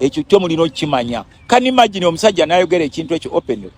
ekyo kyo mulina okukimanya kani imagine omusajja nayogera ekintu ekyo open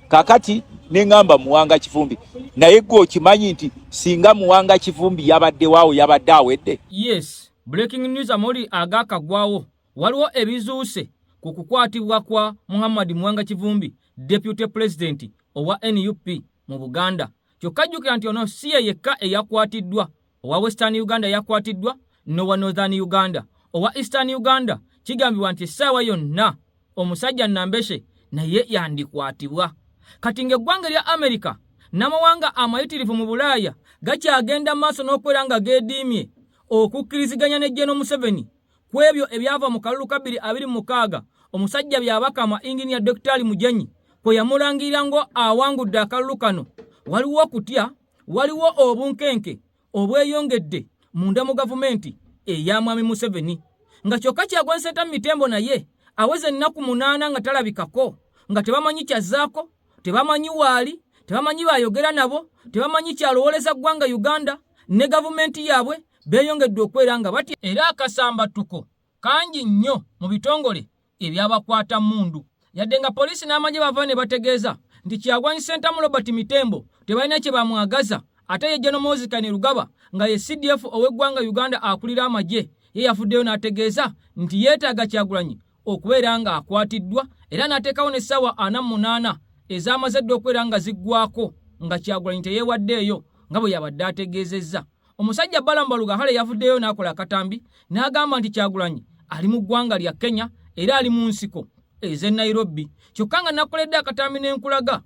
kakati nengamba muwanga kivumbi naye gwe okimanyi nti singa muwanga kivumbi yabadde waawo yabadde awedde yes breaking news amoli agakagwawo waliwo ebizuuse ku kukwatibwa kwa muhammad muwanga kivumbi deputy president owa nup mu buganda kyokka jjukira nti ono si ye yekka eyakwatiddwa owa western uganda yakwatiddwa nowa northern uganda owa eastern uganda kigambibwa nti essaawa yonna omusajja nambeshe naye yandikwatibwa kati ng'eggwanga erya amerika n'amawanga amayitirivu mu bulaaya gakyagenda maaso n'okubeera nga geediimye okukkiriziganya ne jeno museveni ku ebyo ebyava mu kalulu ka bbiri abiri mu mukaaga omusajja byabakama inginiya dokitaali mujanyi kwe yamulangirira ngo awangudde akalulu kano waliwo okutya waliwo obunkenke obweyongedde munda mu gavumenti eya mwami museveni nga kyokka kyagwanyi sentamu mitembo naye aweza ennaku munaana nga talabikako nga tebamanyi kyazzaako tebamanyi waali tebamanyi baayogera nabo tebamanyi kyalowooleza ggwanga uganda ne gavumenti yaabwe beeyongedde okwera nga batya era akasambattuko kangi nnyo mu bitongole eby'abakwata mmundu yadde nga poliisi n'amagye bava ne bategeeza nti Kyagulanyi Ssentamu Robert Mitembo tebalina kye bamwagaza ate ye General Mozi Kainerugaba nga ye CDF ow'eggwanga Uganda akulira amagye ye yavuddeyo n'ategeeza nti yeetaaga Kyagulanyi okubeera ng'akwatiddwa era n'ateekawo n'essaawa ana mu munaana ezaamaze dda okubeera nga ziggwaako nga Kyagulanyi teyeewaddeeyo nga bwe yabadde ategeezezza. Omusajja Balaam Barugahare yavuddeyo n'akola akatambi n'agamba nti Kyagulanyi ali mu ggwanga lya Kenya era ali mu nsiko ez'e Nairobi kyokka nga nakoledde akatambi ne nkulaga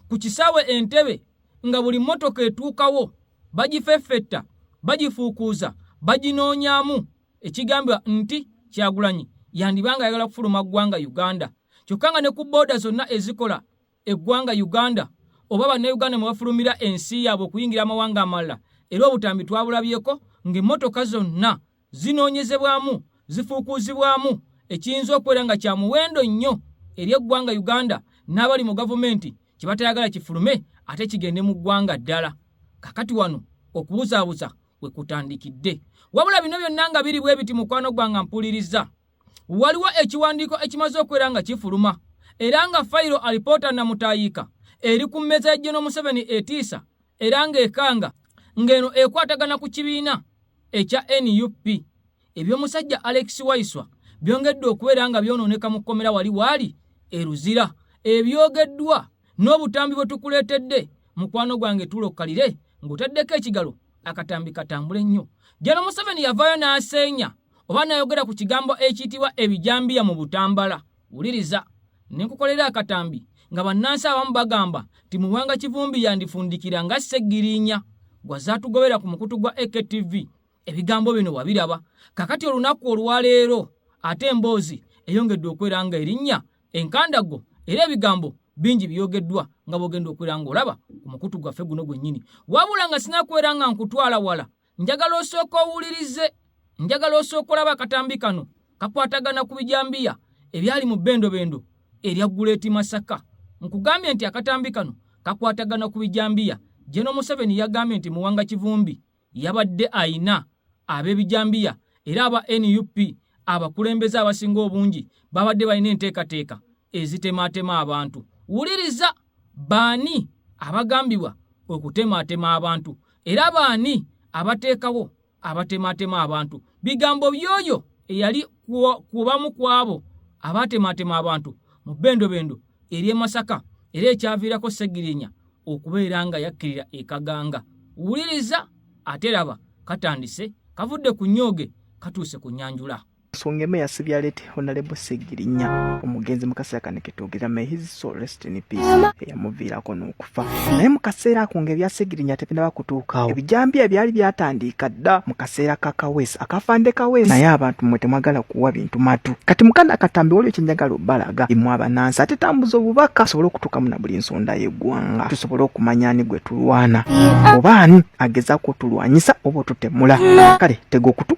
ku kisaawe Entebbe nga buli mmotoka etuukawo bagifeffetta bagifuukuuza baginoonyaamu ekigambibwa nti Kyagulanyi yandiba nga ayagala kufuluma ggwanga Uganda kyokka nga ne ku booda zonna ezikola eggwanga Uganda oba Bannayuganda mwe bafulumira ensi yaabwe okuyingira amawanga amalala era obutambi twabulabyeko ng'emmotoka zonna zinoonyezebwamu, zifuukuuzibwamu ekiyinza okubeera nga kya muwendo nnyo eri eggwanga Uganda n'abali mu gavumenti kye batayagala kifulume ate kigende mu ggwanga ddala. Kakati wano okubuzaabuza we kutandikidde. Wabula bino byonna nga biri bwe biti mukwano gwange ampulirizza. waliwo ekiwandiiko ekimaze okubeera nga kifuluma era nga fayiro alipoota namutaayiika eri ku mmeeza ya General Museveni etiisa era ng'ekanga ng'eno ekwatagana ku kibiina ekya nup eby'omusajja Alex Waiswa byongedde okubeera nga byonooneka mu kkomera wali waali e Luzira ebyogeddwa n'obutambi bwe tukuleetedde mukwano gwange tuula okukalire ng'otaddeko ekigalo akatambi katambule nnyo General Museveni yavaayo n'aseenya oba nayogera ku kigambo ekiyitibwa ebijambiya mu butambala wuliriza ne nkukolera akatambi nga bannansi abamu bagamba nti muwanga kivumbi yandifundikira nga seggiriinya gwa zaatugobera ku mukutu gwa ektv ebigambo bino wabiraba kakati olunaku olwaleero ate emboozi eyongedde okwera nga erinnya enkandago era ebigambo bingi biyogeddwa nga bwogenda okwera nga olaba ku mukutu gwaffe guno gwennyini wabula nga sinakwera nga nkutwala wala njagala osooka owulirize njagala osooka olaba akatambi kano kakwatagana ku bijambiya ebyali mu bendobendo erya guleeti masaka nkugambye nti akatambi kano kakwatagana ku bijambiya jeno museveni yagambye nti muwanga kivumbi yabadde ayina ab'ebijambiya era aba nup abakulembeze abasinga obungi babadde balina enteekateeka ezitemaatema abantu wuliriza Baani abagambibwa okutemaatema abantu era baani abateekawo abatemaatema abantu? Bigambo by'oyo eyali ku bamu ku abo abaatemaatema abantu mu bbendobendo ery'e Masaka era ekyaviirako Ssegirinya okubeera nga yakkirira e Kaganga. Wuliriza ate laba katandise, kavudde ku nnyooge katuuse ku nnyanjula. nsonga emu yasibya lete honalebo segirinya omugenzi mukaseera kano ketwogera may his soul rest in peace eyamuviirako n'okufa naye mu kaseera ako nga ebya segirinya tebinaba kutuukawo ebijambiya ebyali byatandiika dda mu kaseera ka kaweesi akafande kaweesi naye abantu mwe temwagala kuwa bintu matu kati mukana akatambi waliwo kyenjagala obalaga imwe abanansi ate tambuza obubaka tusobole okutuukamu na buli nsonda y'eggwanga tusobole okumanya ani gwe tulwana oba ani agezaako otulwanyisa oba otutemula kale tega okutu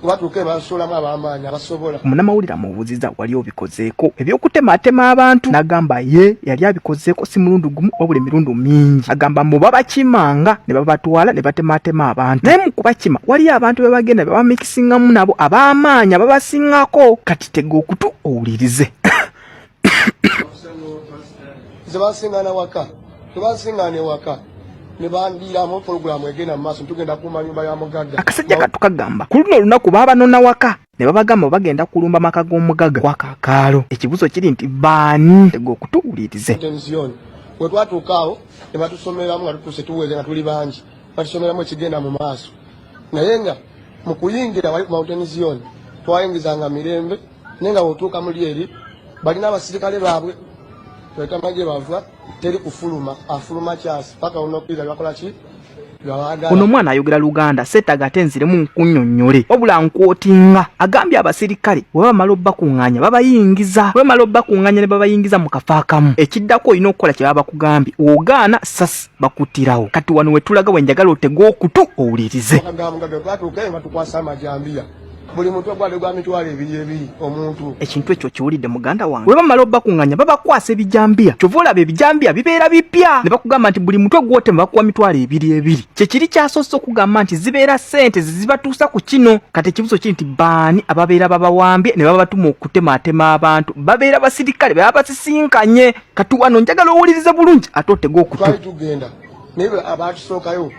kubatuuka ebansuulamu abamaanyi abasobola omunamawulire amubuuziza wali obikozeeko ebyokutemaatema abantu n'agamba ye yali abikozeeko si mulundi gumu wabula emirundi mingi agamba mbu babakimanga ne babatwala ne batemaatema abantu naye mu kubakima waliyo abantu be bagenda bebamikisingamu nabo ab'amaanyi ababasingako kati tega okutu owulirize nze basingana waka tebasingana ewaka nebandiiramu pulogulaamu egenda mu maaso ntugenda kuuma nyumba ya mugagga akasajja katukagamba ku luno olunaku baabanona waka ne babagamba bagenda kulumba maka g'omugagga kwa kakaalo ekibuzo kiri nti baani tega okutuwulirize we twatuukaawo ne batusomeramu nga tutuuse tuweze nga tuli bangi batusomeramu ekigenda mu maaso naye nga mu kuyingira mountain zion twayingizanga mirembe naye nga wotuuka muli eri balina abasirikale baabwe twetama gye bava teri kufuluma afuluma kyasi paka onokwira lwakola ki ono omwana ayogera luganda setaga ate nziremu nkunyonnyole wabula nkwotinga agambye abaserikale bwe bamala obakuŋŋanya babayingiza bwe bamala obakuŋŋanya ne babayingiza mu kafo akamu ekiddako olina okukola kye baba bakugambye ogaana sasi bakuttirawo kati wano wetulaga wenjagala otege okutu owulirize buli muntu ogwade gwa mitwalo ebiri ebiri omuntu ekintu ekyo kiwulidde muganda wange bwe bamala obakunganya babakwasa ebijambiya kyova olaba ebijambiya bibeera bipya ne bakugamba nti buli mutwe gwotema bakuwa mitwalo ebiri ebiri kyekiri kyasoose okugamba nti zibeera sente zezibatuusa ku kino kati ekibuzo kiri nti baani ababeera babawambye ne babatuma okutemaatema abantu babeera basirikale baba basisinkanye kati wano njagala owulirize bulungi ate otege okutu naye abatusookayo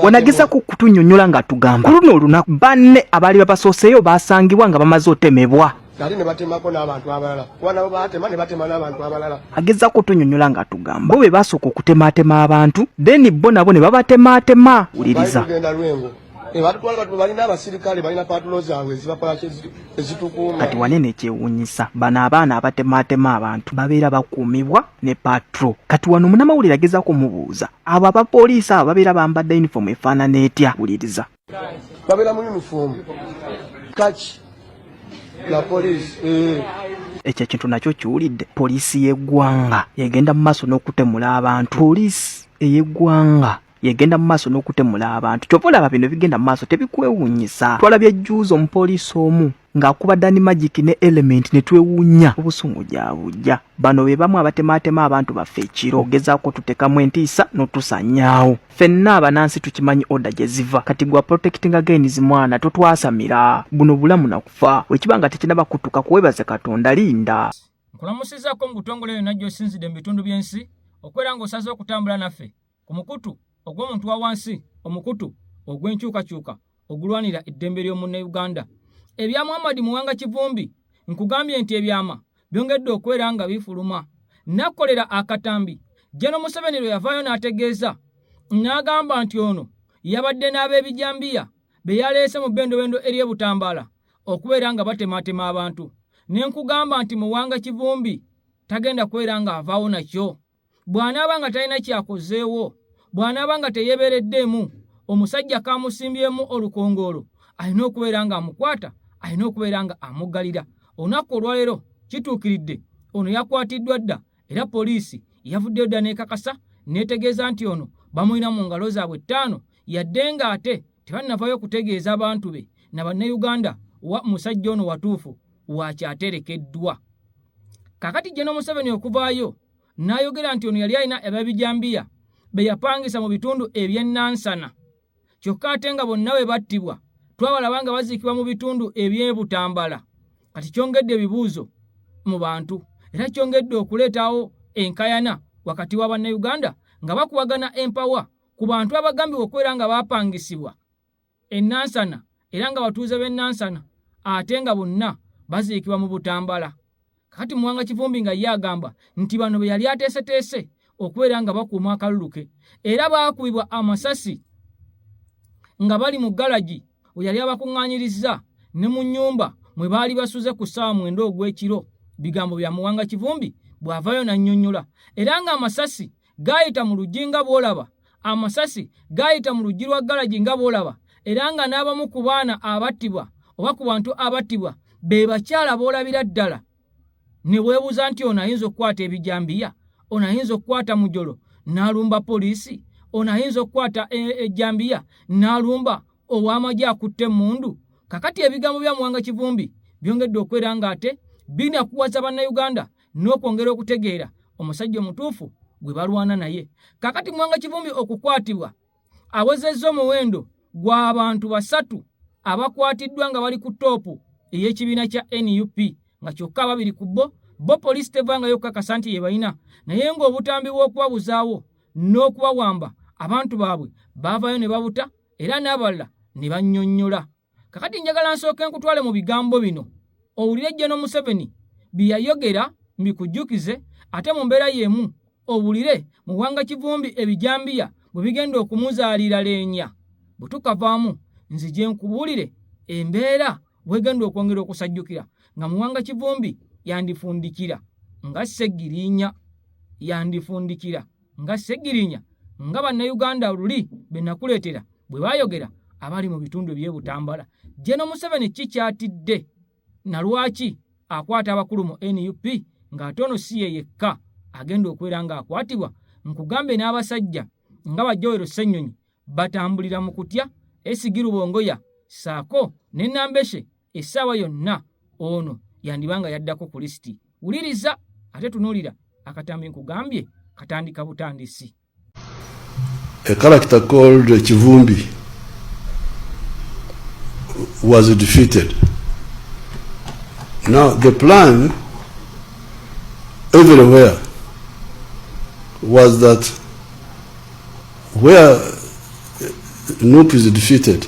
wenageza ku kutunyonyola nga tugamba kuluno olunaku banne abaali babasooseeyo baasangibwa nga bamaze otemebwa nali nebatemako n'abantu abalala kuba nabo batema nebatema n'abantu abalala ageza kutunyonyola nga tugamba bo be basooka okutematema abantu then bo nabo ne babatematema wuliriza genda lwengo nebatutwala batu balina abasirikale balina patulo zaabwe ezibakola ezitukuuma kati wanene ekyewunyisa bano abaana abatematema abantu babeera bakuumibwa ne patro kati wano munamawulire agezako mubuuza abo abapoliisi abo babeera bambadde yunifoomu efaanana etya wuliriza babeera mu yunifoomu kaki la poliisi eh. ekyo ekintu nakyo kiwulidde poliisi y'eggwanga yegenda mu maaso n'okutemula abantu poliisi ey'eggwanga yegenda mu maaso n'okutemula abantu kyova olaba bino bigenda mu maaso tebikwewunyisa twalabye jjuuzi omupoliisi omu ng'akuba Dani Magic ne Element ne twewuunya obusungujabujja. Bano be bamu abatemaatema abantu baffe ekiro ogezaako tutekamu entiisa n'otusanyaawo. Fenna abanansi tukimanyi oda gye ziva kati gwa protectinga gains mwana totwasamira buno bulamu na kufa wekiba nga tekinaba kutuka kuwebaze katonda linda. Nkulamusizako mu butongole yonna gy'osinzidde mu bitundu by'ensi okwera ng'osaze okutambula naffe. ku mukutu ogw'omuntu wa wansi omukutu ogw'enkyukakyuka ogulwanira eddembe ly'omunnauganda ebya muhammad muwanga kivumbi nkugambye nti ebyama byongedde okubeera nga bifuluma nakolera akatambi jeno museveni lwe yavaayo n'ategeeza n'agamba nti ono yabadde n'ab'ebijambiya be yaleese mu bendobendo ery'ebutambaala okubeera nga batematema abantu ne nkugamba nti muwanga kivumbi tagenda kubeera ng'avaawo nakyo bw'anaaba nga talina kyakozeewo bw'anaaba nga teyebeereddeemu omusajja kamusimbyemu olukongoolo alina okubeera nga amukwata alina okubeera nga amuggalira olunaku olwaleero kituukiridde ono yakwatiddwa dda era poliisi yavuddeyo dda n'ekakasa n'etegeeza nti ono bamulina mu ngalo zaabwe ttaano yadde ng'ate tebannavayo okutegeeza abantu be na bannayuganda wa musajja ono watuufu waaki aterekeddwa kakati jeno museveni okuvaayo n'ayogera nti ono yali alina ababijambiya be yapangisa mu bitundu ebyennansana kyokka ate nga bonna bwe battibwa twabalaba nga baziikibwa mu bitundu ebyebutambala kati kyongedde ebibuuzo mu bantu era kyongedde okuleetawo enkayana wakati wa bannayuganda nga bakuwagana empawa ku bantu abagambibwa okubeera nga baapangisibwa e Nansana era nga batuuze b'e Nansana ate nga bonna baziikibwa mu Butambala. Kati Muwanga Kivumbi nga ye agamba nti bano be yali ateeseteese okubeera nga bakuuma akalulu ke era baakubibwa amasasi nga bali mu galagi we yali abakuŋŋaanyirizza ne mu nnyumba mwe baali basuze ku ssaawa mwenda ogw'ekiro bigambo bya Muwanga Kivumbi bw'avaayo n'annyonnyola era ng'amasasi gaayita mu luggi nga bw'olaba amasasi gaayita mu luggi lwa galagi nga bw'olaba era nga n'abamu ku baana abattibwa oba ku bantu abattibwa be bakyala b'olabira ddala ne weebuuza nti ono ayinza okukwata ebijambiya ono ayinza okukwata mujolo n'alumba poliisi ono ayinza okukwata e-, ejjambiya n'alumba ow'amagye akutte emmundu kakati ebigambo bya muwanga kivumbi byongedde okwera ng'ate binakuwaza bannayuganda n'okwongera okutegeera omusajja omutuufu gwe balwana naye kakati mwanga kivumbi okukwatibwa awezezza omuwendo gw'abantu basatu abakwatiddwa nga bali ku toopu ey'ekibiina kya nup nga kyokka ababiri ku bo bo poliisi tevangayo okukakasa nti yebalina naye ng'obutambi bw'okubabuzaawo n'okubawamba abantu baabwe baavayo ne babuta era n'abalala ne bannyonnyola kakati njagala nsooke nkutwale mu bigambo bino owulire jeno museveni bye yayogera mbikujjukize ate mu mbeera y'emu owulire muwanga kivumbi ebijambiya bwe bigenda okumuzaalira leenya bwe tukavaamu nzije nkubuulire embeera bwegenda okwongera okusajjukira nga muwanga kivumbi yandifundikira nga ssegiriinya yandifundikira nga Ssegirinya nga Bannayuganda luli be nakuleetera bwe baayogera abali mu bitundu eby'e Butambala. Jeno Museveni ki kyatidde na lwaki akwata abakulu mu nup ng'ate ono si ye yekka agenda okubeera ng'akwatibwa nkugambe n'abasajja nga Bajowero Ssenyonyi batambulira mu kutya Esigi Rubongoya ssaako ne Nambeshe essaawa yonna ono yandiba nga yaddako ku lisiti wuliriza ate tunuulira akatambi nkugambye katandika butandisi a character called kivumbi was defeated now the plan everywhere was that where Nup is defeated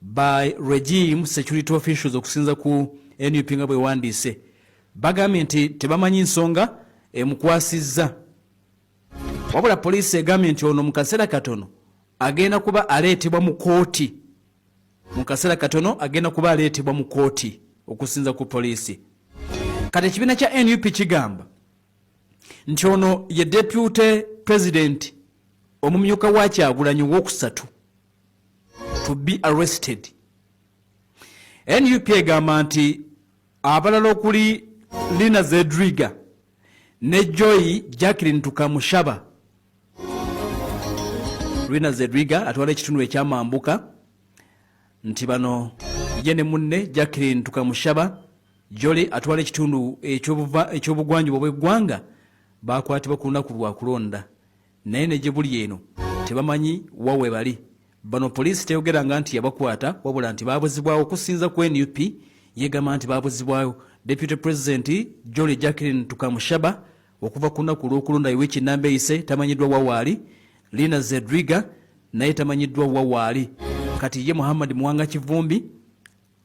By Regime Security Officials okusinza ku nup nga bwewandiise bagambye nti tebamanyi nsonga emukwasizza wabula poliisi egambye nti ono mu kaseera katono agenda kuba aleetebwa mu kooti mu kaseera katono agenda kuba aleetebwa mu kooti okusinza ku poliisi kati ekibiina kya nup kigamba nti ono ye depute pulezidenti omumyuka wa kyagulanyi owokusatu to be arrested nup egamba nti abalala okuli lina zedriga ne joy jacklin tukamushaba lina zedriga atwala ekitundu ekyamambuka nti bano ye ne munne jacklin tukamushaba joli atwala ekitundu ekyobugwanjuba obweggwanga bakwatibwa ku lunaku lwakulonda naye ne gye buli eno tebamanyi wa we bali. Bano poliisi teyogeranga nti yabakwata wabula nti baabuzibwawo okusinza ku nup yegamba nti baabuzibwawo deputy president Jolly Jacqueline Tukamushaba okuva ku lunaku olw'okulonda Iwiki namba eyise tamanyiddwa wa waali Lina Zedriga naye tamanyiddwa wa waali kati ye Muhammad Muwanga Kivumbi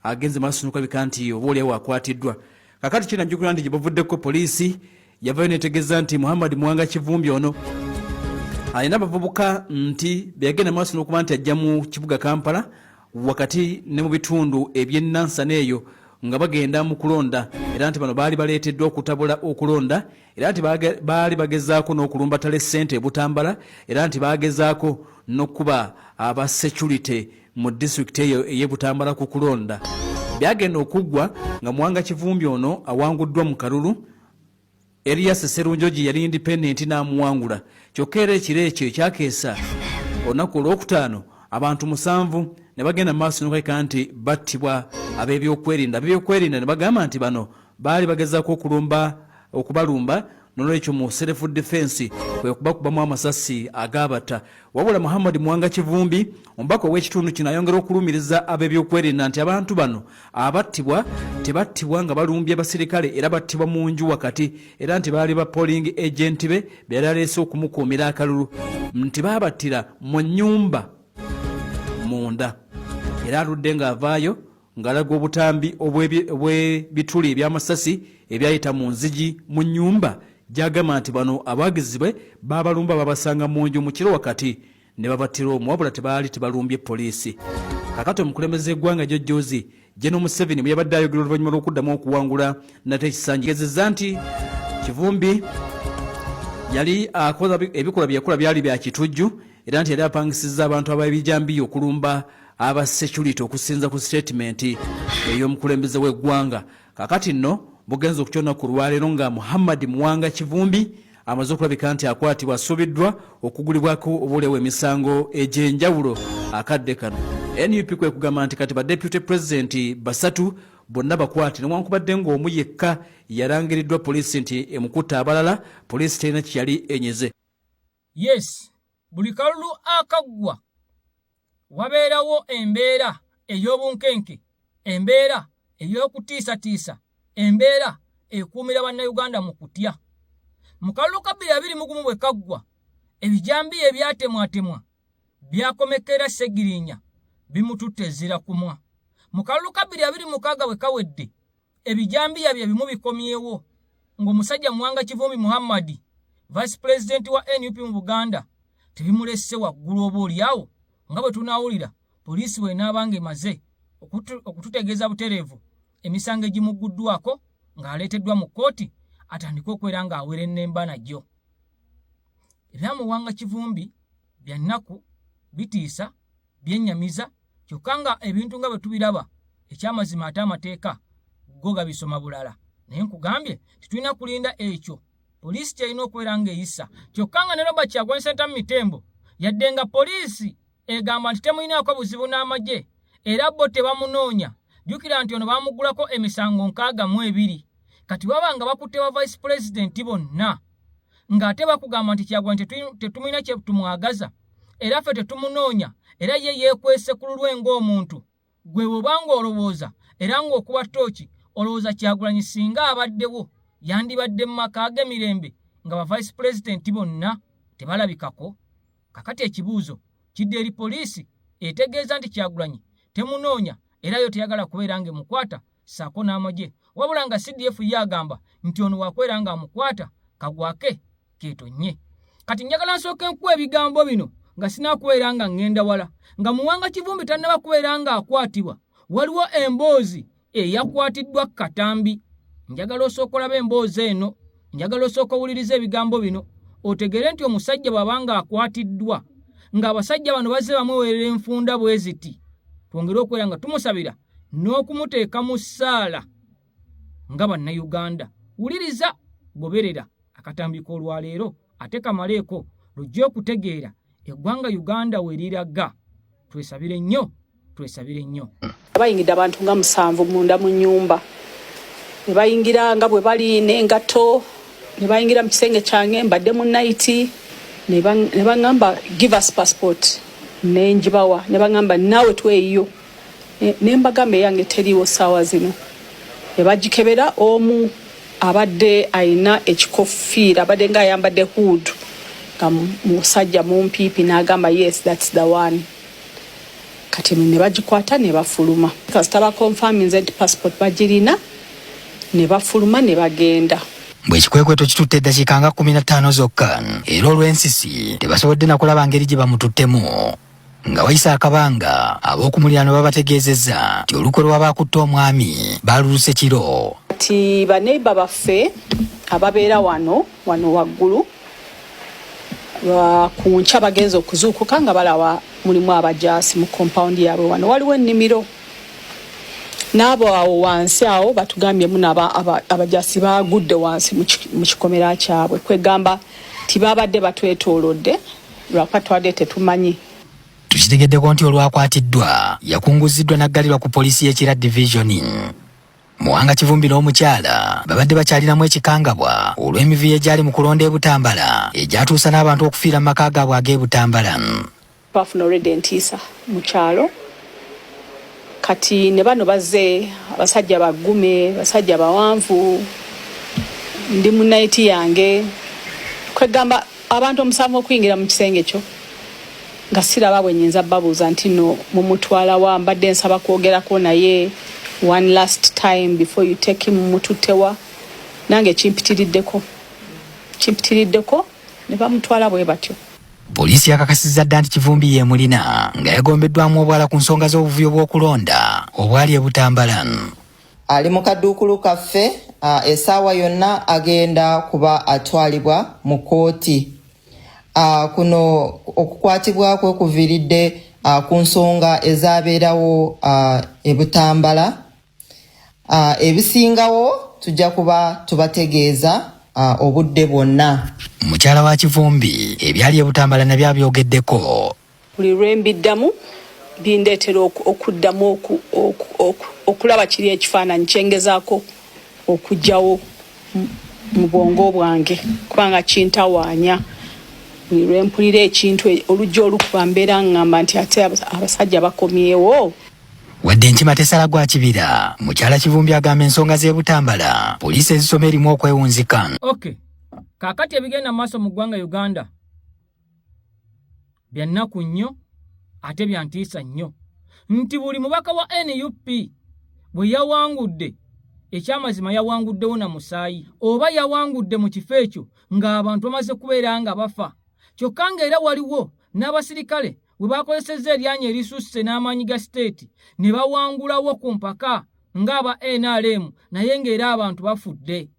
agenze maaso nokulabika nti oba oliawo akwatiddwa kakati kinajjukira nti gyebavuddeko poliisi yavayo netegeeza nti muhammad muwanga kivumbi ono alina abavubuka nti beyagenda maaso nokuba nti ajja mu kibuga kampala wakati ne mu bitundu ebyenansana eyo nga bagenda mu kulonda era nti bano baali baleeteddwa okutabula okulonda era nti baali bagezaako n'okulumbatala essente ebutambala era nti baagezaako n'okukuba aba security mu disitulikiti eyo ey'e Butambala ku kulonda byagenda okuggwa nga Muwanga Kivumbi ono awanguddwa mu kalulu Elias Sserunjogi yali independent n'amuwangula kyokka era ekiro ekyo ekyakeesa olunaku olwokutaano abantu musanvu ne bagenda mu maaso nokaika nti battibwa ab'ebyokwerinda ab'ebyokwerinda ne bagamba nti bano baali bagezaako okulumba okubalumba nolwekyo mu self defense kwe kubakubamu amasasi agabata wabula muhammad mwanga kivumbi omubaka ow'ekitundu kino ayongera okulumiriza ab'ebyokwerinda nti abantu bano abattibwa tebattibwa nga balumbye basirikale era battibwa mu nju wakati era nti baali ba polling agenti be beyali aleese okumukuumira akalulu nti baabattira mu nnyumba munda era aludde ng'avaayo ng'alaga obutambi obw'ebituli eby'amasasi ebyayita mu nzigi mu nnyumba gy'agamba nti bano abawagizi be baabalumba babasanga mu nju mu kiro wakati ne babattira omu wabula tebaali tebalumbye poliisi kakati omukulembeze eggwanga jojjoozi jeno museveni bwe yabadde ayogera oluvannyuma lw'okuddamu okuwangula nate ekisanji gezeza nti kivumbi yali akola ebikolwa bye yakola byali bya kitujju era nti yali apangisizza abantu ab'ebijambiya okulumba aba security okusinza ku sitatimenti ey'omukulembeze w'eggwanga kakati nno bugenza okukyona ku lwaleero nga muhammad muwanga kivumbi amaze okulabika nti akwatibwa asuubiddwa okugulibwako obulewo emisango egy'enjawulo akadde kano nup kwe kugamba nti kati badeputy pulezidenti basatu bonna bakwate newankubadde ng'omu yekka yalangiriddwa poliisi nti emukutte abalala poliisi terina kye yali enyeze Yes, buli kalulu akaggwa wabeerawo embeera ey'obunkenke, embeera ey'okutiisatiisa, embeera ekuumira Bannayuganda mu kutya. Mu kalulu ka bbiri abiri mu gumu bwe kaggwa, ebijambiya ebyatemwatemwa byakomekera Ssegirinya bimututte ezira kumwa. Mu kalulu ka bbiri abiri mu mukaaga bwe kawedde, Ebijambiya bye bimu bikomyewo ng'omusajja Muwanga Kivumbi Muhammad, Vice President wa nup mu Buganda tebimulesse waggulu oba olyawo nga bwe tunaawulira poliisi bw'enaaba ng'emaze okututegeeza butereevu emisango egimugguddwako ng'aleeteddwa mu kkooti atandike okwera ng'awerennemba nagyo. Ebya Muwanga Kivumbi bya nnaku bitiisa. byennyamiza kyokka nga ebintu nga bwe tubiraba ekyamazima ate amateeka go gabisoma bulala naye nkugambye tetulina kulinda ekyo poliisi kyerina okubeera ng'eyisa kyokka nga ne roba kyagulanyi sentamu mitembo yadde nga poliisi egamba nti temulinaako buzibu n'amagye era bo tebamunoonya jjukira nti ono baamuggulako emisango nkaaga mu ebiri kati baba nga bakutte ba vice pulezidenti bonna ng'ate bakugamba nti kyagulanyi tetumulina kyetumwagaza era ffe tetumunoonya era ye yeekwese ku lulwe ng'omuntu gwe bw'oba ng'olowooza era ng'okuba ttooki olowooza kyagulanyi singa abaddewo yandibadde mu maka ge mirembe nga bavayisi pulezidenti bonna tebalabikako kakati ekibuuzo kidde eri poliisi etegeeza nti kyagulanyi temunoonya era yo teyagala kubeera ng'emukwata saako n'amagye wabula nga CDF ye agamba nti ono wakwera nga amukwata kagwake ketonye kati njagala nsooka enkuwa ebigambo bino nga sinakubeera nga ŋŋenda wala nga muwanga kivumbi tannaba kubeera ng'akwatibwa waliwo emboozi eyakwatiddwa katambi njagala osookolaba emboozi eno njagala osooka owuliriza ebigambo bino otegeere nti omusajja bw'aba ng'akwatiddwa ng'abasajja bano bazze bamuweerera enfunda bwe ziti twongere okubeera nga tumusabira n'okumuteeka mu ssaala nga bannayuganda wuliriza goberera akatambi k'olwaleero ate kamaleeko lujja okutegeera eggwanga uganda weriraga twesabire nnyo twesabire nnyo bayingidde abantu nga musanvu munda mu nyumba nebayingira nga bwe bali nengato nebayingira mu kisenge kyange mbadde mu naiti nebaŋamba give us passport nenjibawa nebaŋamba naawe tweyiyo nembagamba eyange teriiwo saawa zino nebagikebera omu abadde ayina ekikofiira abadde nga ayambadde hood nga musajja mumpiipi nagamba yes thats the one kati nebagikwata nebafuluma kasita bakonfaminze nti passport bagirina nebafuluma nebagenda mbu ekikwekweto kitutte eddakiika nga kumi na ttaano zokka era olw'ensisi tebasobodde nakulaba ngeri gye bamututtemu Nga wayise akabanga, ab'oku muliraano babategeezezza nti olukwe lw'abaakutte omwami baaluluse kiro. Kati baneiba baffe ababeera wano wano waggulu ku nkya bagenze okuzuukuka nga balaba mulimu abajaasi mu kompawundi yaabwe wano waliwo ennimiro n'abo awo wansi awo batugambye munaba abajasi baagudde wansi mu kikomera kyabwe kwegamba tibabadde batwetoolodde lwakuba twadde tetumanyi tukitegeddeko nti olwakwatiddwa yakunguziddwa n'aggalirwa ku poliisi y'ekira divisioni muwanga kivumbi n'omukyala babadde bakyalinamu ekikangabwa olw'emivuyo egyali mu kulonda e butambala egyatuusa n'abantu okufiira mu maka gaabwe ag'e butambala twafuna olwedda entiisa mu kyalo Kati ne bano bazze abasajja baggume, basajja bawanvu, ndi mu nayiti yange, kwegamba abantu omusanvu okuyingira mu kisenge kyo nga siraba bwe nyinza babuuza nti no mumutwalawa, mbadde nsaba kwogerako naye one last time before you take him mututewa nange kimpitiriddeko kimpitiriddeko ne bamutwala bwe batyo Poliisi yakakasizza dda nti Kivumbi yeemulina nga yagombeddwamu obwala ku nsonga z'obuvuyo bw'okulonda obwali e Butambala. Ali mu kaduukulu kaffe esaawa yonna agenda kuba atwalibwa mu kkooti. Kuno okukwatibwa kwe kuviiridde ku nsonga ezaabeerawo e Butambala. uh, ebisingawo tujja kuba tubategeeza uh, obudde bwonna mukyala wa kivumbi ebyali ebutambala nabyo abyogeddeko buli lwembiddamu bindeetera okuddamu okulaba kiri ekifaananyi kyengezaako okugyawo mu bwongo bwange kubanga kintawaanya buli lwempulira ekintu e, oluggi olukuba mbeera ngamba nti ate abasajja bakomyewo Wadde enkima tesala gwa kibira, mukyala Kivumbi agamba ensonga z'e Butambala poliisi ezisoma erimu okwewunzika. Okay. Kaakati ebigenda mu maaso mu ggwanga Uganda bya nnaku nnyo ate bya ntiisa nnyo nti buli mubaka wa nup bwe yawangudde ekyamazima yawanguddewo na musaayi oba yawangudde mu kifo ekyo ng'abantu bamaze kubeera nga bafa kyokka ng'era waliwo n'abasirikale we baakozesezza eryanyi erisusse n'amaanyi ga siteeti ne bawangulawo ku mpaka ng'aba nrm naye ng'era abantu bafudde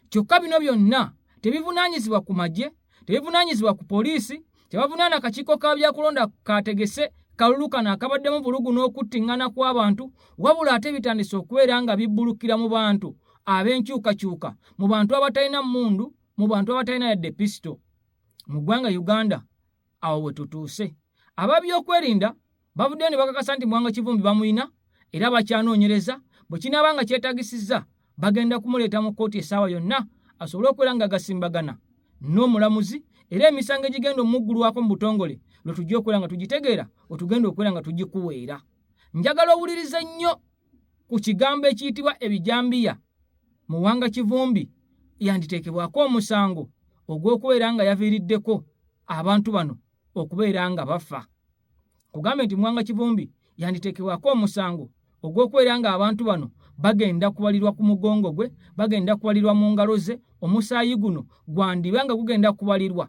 kyokka bino byonna tebivunaanyizibwa ku magye tebivunaanyizibwa ku poliisi tebavunaana akakiiko ka byakulonda kaategese kalulu kano akabaddemu bulugu n'okuttiŋŋana kw'abantu wabula ate bitandise okubeera nga bibbulukira mu bantu ab'enkyukakyuka mu bantu abatalina mmundu mu bantu abatalina yadde pisito mu ggwanga uganda awo we tutuuse ababyokwerinda bavuddeyo ne bakakasa nti mwanga kivumbi bamulina era bakyanoonyereza bwe kinaaba nga kyetagisizza bagenda kumuleeta mu kkooti essaawa yonna asobole okubeera nga agasimbagana n'omulamuzi era emisango egigenda omuggulwako mu butongole lwe tujja okubeera nga tugitegeera wetugenda okubeera nga tugikuweera njagala owulirize nnyo ku kigambo ekiyitibwa ebijambiya muwanga kivumbi yanditeekebwako omusango ogw'okubeera nga yaviiriddeko abantu bano okubeera nga bafa kugambye nti mwanga kivumbi yanditeekebwako omusango ogw'okubeera ng'abantu bano bagenda kubalirwa ku mugongo gwe bagenda kubalirwa mu ngalo ze omusaayi guno gwandiba nga gugenda kubalirwa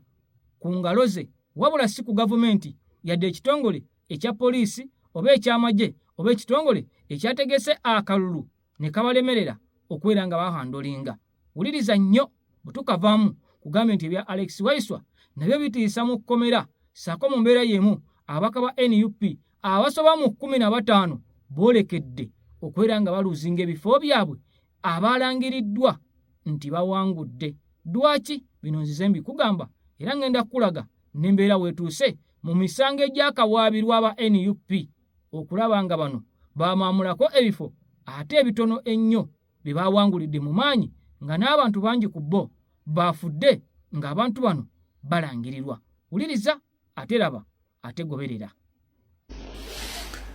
ku ngalo ze wabula si ku gavumenti yadde ekitongole ekya poliisi oba ekyamagye oba ekitongole ekyategese akalulu ne kabalemerera okubeera nga bahandolinga wuliriza nnyo bwe tukavaamu kugambye nti ebya alex waiswa nabyo bitiisa mu kkomera saako mu mbeera y'emu abaka ba nup abasoba mu kkumi na bataano boolekedde okubeera nga baluuzinga ebifo byabwe abaalangiriddwa nti bawangudde dwaki bino nzize mbikugamba era ngenda kukulaga n'embeera weetuuse mu misango egyakawaabirwa aba nup okulaba nga bano bamaamulako ebifo ate ebitono ennyo bye baawangulidde mu maanyi nga n'abantu bangi ku bo baafudde ng'abantu bano balangirirwa wuliriza ate laba ate goberera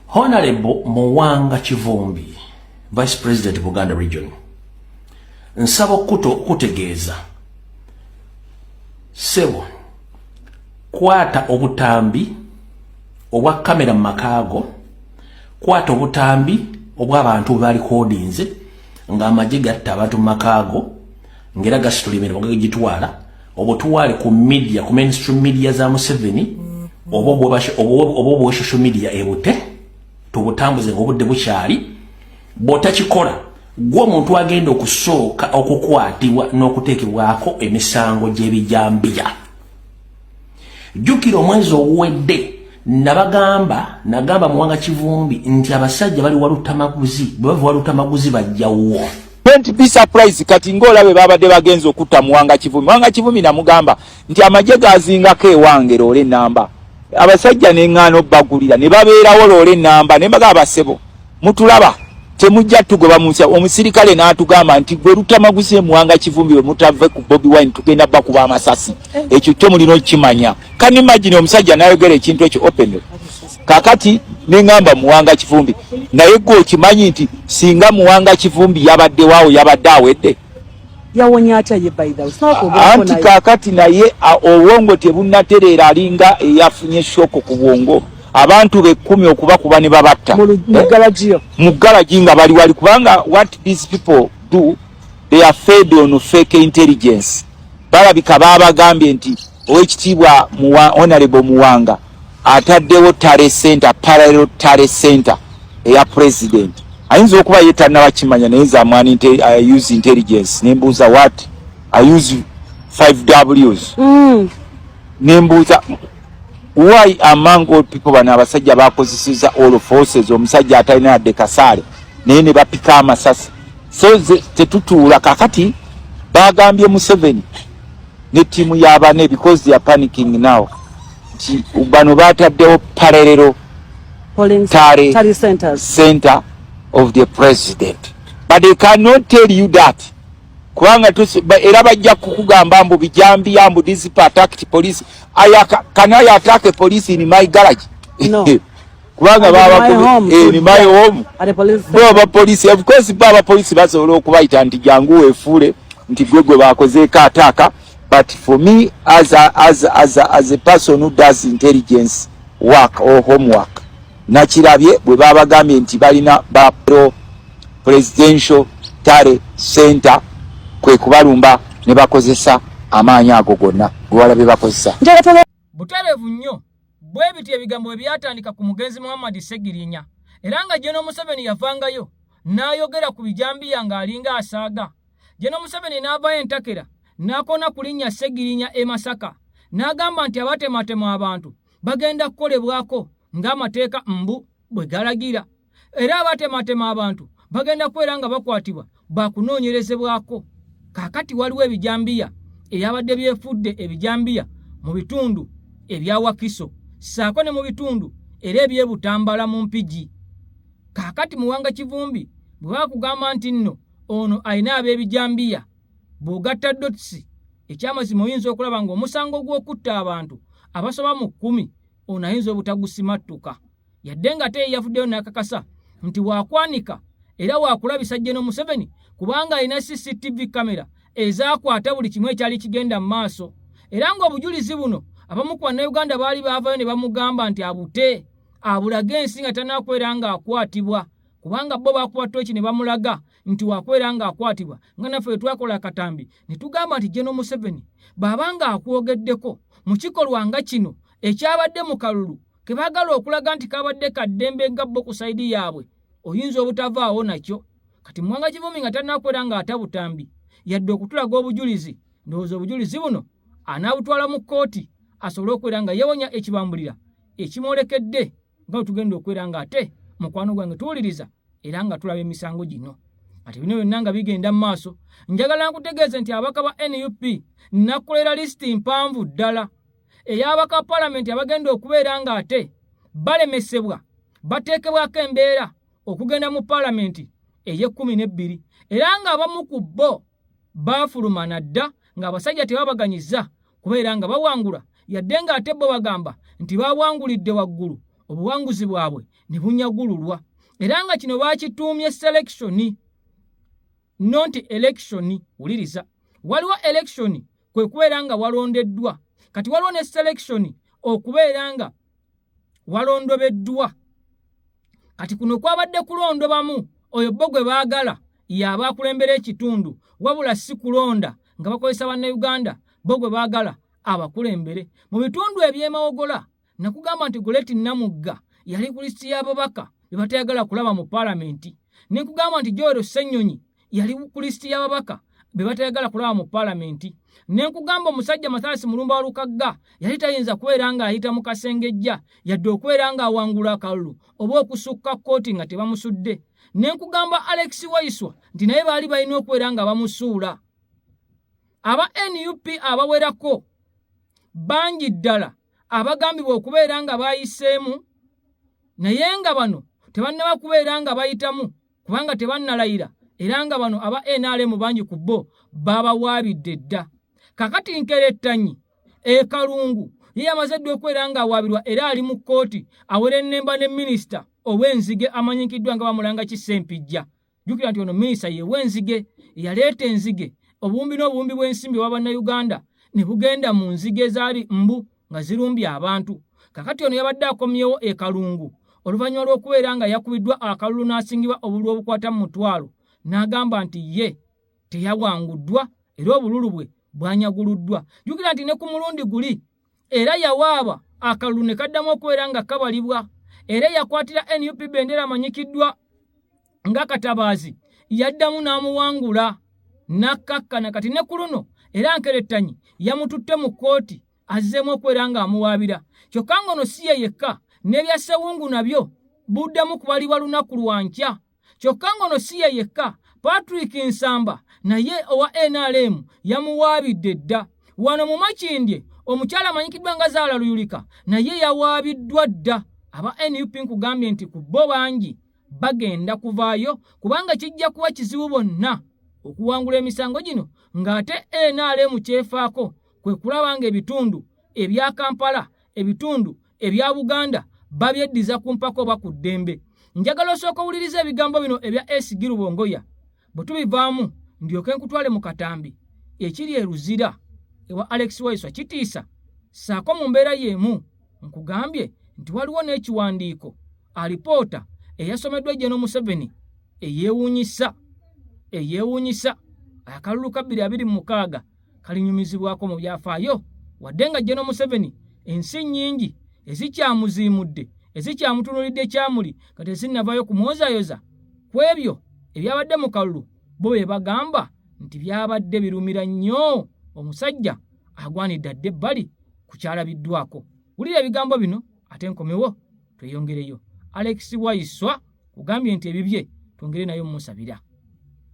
honalebo muwanga kivumbi vice president buganda region nsaba okukuta okutegeeza sebo kwata obutambi obwa kamera mu makaago kwata obutambi obw'abantu bwe balikodinze ng'amagye gatta abantu mu makaago ng'era gasitula emirimu gagitwala obutwale ku media ku mainstream media za museveni oba obwa social media ebute tubutambuze ng'obudde bukyali bw'otakikola gwe omuntu agenda okusooka okukwatibwa n'okuteekebwako emisango gy'ebijambiya jukira omwezi oguwedde nabagamba nagamba muwanga kivumbi nti abasajja bali walutamaguzi bwebava walutamaguzi bajjawuwo don't be surprised kati ngaolabe babadde bagenza okutta muwanga kivumi muwanga kivumi namugamba nti amagye gazingako ewange loole enamba abasajja neŋŋaana obbagulira ne babeerawo loole enamba ne mbaga abasebo mutulaba temujja tugoba munsi omusirikale n'atugamba nti gwe lutamaguzi emuwanga kivumbi we mutave ku bobi wine tugenda bakuba amasasi eh. ekyo kyo mulina okukimanya kan imagine omusajja nayogera ekintu ekyo open kakati nengamba muwanga kivumbi naye gwe okimanyi nti singa muwanga kivumbi yabadde waawo yabadde awedde yawonye atya ye anti kakati naye obwongo tebunatereera alinga eyafunye shoko ku bwongo abantu bekkumi okuba kuba ne babatta mu galagi nga bali wali kubanga what these people do they are fed on fake intelligence balabika baabagambye nti owekitiibwa honorable muwanga ataddewo tale center parallel tale center eya president ayinza okuba ye tannabakimanya naye nze amwani uh, use intelligence nembuuza what i use 5 ws mm. nembuuza why among all people bano abasajja bakozeseza all forces omusajja atalina yadde kasaale naye ne bapika amasasi so tetutuula kakati bagambye museveni ne tiimu yabane because they are panicking now nti bano bataddewo parerero tare center of the president but they cannot tell you that kubanga era bajja kukugamba mbu bijambiya mbu disipa attacked police aya can I attack a police in my garage no. kubanga baba eh, in my home baba police of course baba police basobola okubayita nti jangu wefuule nti gwe gwe bakozeeko ataaka but for me as a, as a, as a, as a person who does intelligence work or homework Nakirabye bwe baabagambye nti balina ba pro presidential tale center kwe kubalumba ne bakozesa amaanyi ago gonna gwe walabye bakozesa butereevu nnyo bwe bityo ebigambo bwe byatandika ku mugenzi muhammadi segirinya era nga jeno museveni yavangayo n'ayogera ku bijambiya ng'alinga asaaga jeno museveni n'avayo entakera n'akoona ku linnya segirinya e masaka n'agamba nti abatematema abantu bagenda kukolebwako ng'amateeka mbu bwe galagira era abatematema abantu bagenda kubeera nga bakwatibwa bakunoonyerezebwako kaakati waliwo ebijambiya ebyabadde byefudde ebijambiya mu bitundu ebya wakiso ssaako ne mu bitundu era ebyebutambala mu mpigi kaakati muwanga kivumbi bwe bakugamba nti nno ono alina ab'ebijambiya bw'ogatta dotisi ekyamazima oyinza okulaba ng'omusango gw'okutta abantu abasoba mu kkumi ono ayinza obutagusimattuka yadde nga ate yeyavuddeyo n'akakasa nti waakwanika era waakulabisa jeno museveni kubanga alina cctv kamera ezaakwata buli kimu ekyali kigenda mu maaso era ng'obujulizi buno abamu ku bannayuganda baali baavayo ne bamugamba nti abute abulage ensi nga tanaakwera ng'akwatibwa kubanga bo baakuba tooki ne bamulaga nti wakubeera ng'akwatibwa nga naffe bwe twakola akatambi ne tugamba nti geno museveni bw'aba ng'akwogeddeko mu kikolwa nga kino ekyabadde mu kalulu ke baagala okulaga nti kabadde kaddembe nga bo ku sayidi yaabwe oyinza obutavaawo nakyo kati muwanga kivumi nga tanakubeera ng'atabutambi yadde okutulaga obujulizi ndowooza obujulizi buno anaabutwala mu kkooti asobole okubeera nga yewonya ekibambulira ekimwolekedde nga bwe tugenda okubeera ng'ate mukwano gwange tuwuliriza era nga tulaba emisango gino ati bino byonna nga bigenda mu maaso njagala nkutegeeze nti abaka ba nup nakulera lisiti mpanvu ddala ey'abaka palamenti abagenda okubeera ng'ate balemesebwa bateekebwako embeera okugenda mu palamenti ey'ekkumi n'ebbiri era ng'abamu ku bo baafuluma na dda ng'abasajja tebabaganyizza kubeera nga bawangula yadde ng'ate bo bagamba nti baawangulidde waggulu obuwanguzi bwabwe ne bunyagululwa era nga kino baakituumye selekishoni no nti elekishoni wuliriza waliwo elekishoni kwe kubeera nga walondeddwa kati waliwo ne selekishoni okubeera nga walondobeddwa kati kuno kwabadde kulondobamu oyo bo gwe baagala yaaba akulembera ekitundu wabula si kulonda nga bakozesa bannayuganda bo gwe baagala abakulembere mu bitundu ebyemawogola nakugamba nti goleti namugga yali ku lisiti y'ababaka be batayagala kulaba mu paalamenti ne nkugamba nti joero ssenyonyi yali ku lisiti y'ababaka be batayagala kulaba mu palamenti ne nkugamba omusajja mathalasi mulumba wa lukagga yali tayinza kubeera ng'ayita mu kasengejja yadde okubeera ng'awangula akalulu oba okusukka kkooti nga tebamusudde ne nkugamba alex waiswa nti naye baali balina okubeera nga bamusuula aba nup abawerako bangi ddala abagambibwa okubeera nga bayiseemu naye nga bano tebannaba kubeera nga bayitamu kubanga tebannalayira era nga bano aba nrm bangi ku bo baabawaabidde dda kakati nkerettanyi ekalungu ye yamaze edda okubeera ng'awaabirwa era ali mu kkooti awerennemba ne minisita ow'enzige amanyikiddwa nga bamulanga kisempijja jjukira nti ono minisita yew'enzige eyaleeta enzige obuwumbi n'obuwumbi bw'ensimbi owa bannayuganda ne bugenda mu nzige ezaali mbu nga zirumbye abantu kakati ono yabadde akomyewo e kalungu oluvannyuma lw'okubeera nga yakubiddwa akalulu n'asingibwa obululu obukwata mu mutwalo n'agamba nti ye teyawanguddwa era obululu bwe bwanyaguluddwa jjukira nti ne ku mulundi guli era yawaaba akalulu ne kaddamu okubeera nga kabalibwa era eyakwatira nup bendera amanyikiddwa nga katabaazi yaddamu n'amuwangula n'akkakkana kati ne ku luno era nkerettanyi yamututte mu kkooti azzeemu okwera ng'amuwaabira kyokka ng'ono si ye yekka n'ebya ssewungu nabyo buddamu kubalibwa lunaku lwa nkya kyokka ng'ono si ye yekka patrick nsamba naye owa nrm yamuwaabidde dda wano mu makindye omukyala amanyikiddwa nga zaala luyulika naye yawaabiddwa dda aba nup nkugambye nti ku bo bangi bagenda kuvaayo kubanga kijja kuba kizibu bonna okuwangula emisango gino ng'ate nrm kyefaako kwe kulaba ng'ebitundu ebya kampala ebitundu ebya buganda babyeddiza ku mpaka oba ku ddembe njagala osooka owuliriza ebigambo bino ebya esigi lubongoya bwe tubivaamu ndyoke nkutwale mu katambi ekiri e Luzira ewa Alex Waiswa Kitiisa ssaako mu mbeera y'emu nkugambye nti waliwo n'ekiwandiiko alipoota eyasomeddwa Jeno Museveni eyeewuunyisa eyeewuunyisa akalulu ka bbiri abiri mu mukaaga kalinyumizibwako mu byafaayo wadde nga jeno museveni ensi nnyingi ezikyamuziimudde ezikyamutunulidde ekyamuli nga tezinnavayo kumwozayoza ku ebyo ebyabadde mu kalulu bo be bagamba nti byabadde birumira nnyo omusajja agwanidde adde ebbali ku kyalabiddwako wulira ebigambo bino ate nkomewo tweyongereyo alex waiswa kugambye nti ebibye twongere nayo mumusabira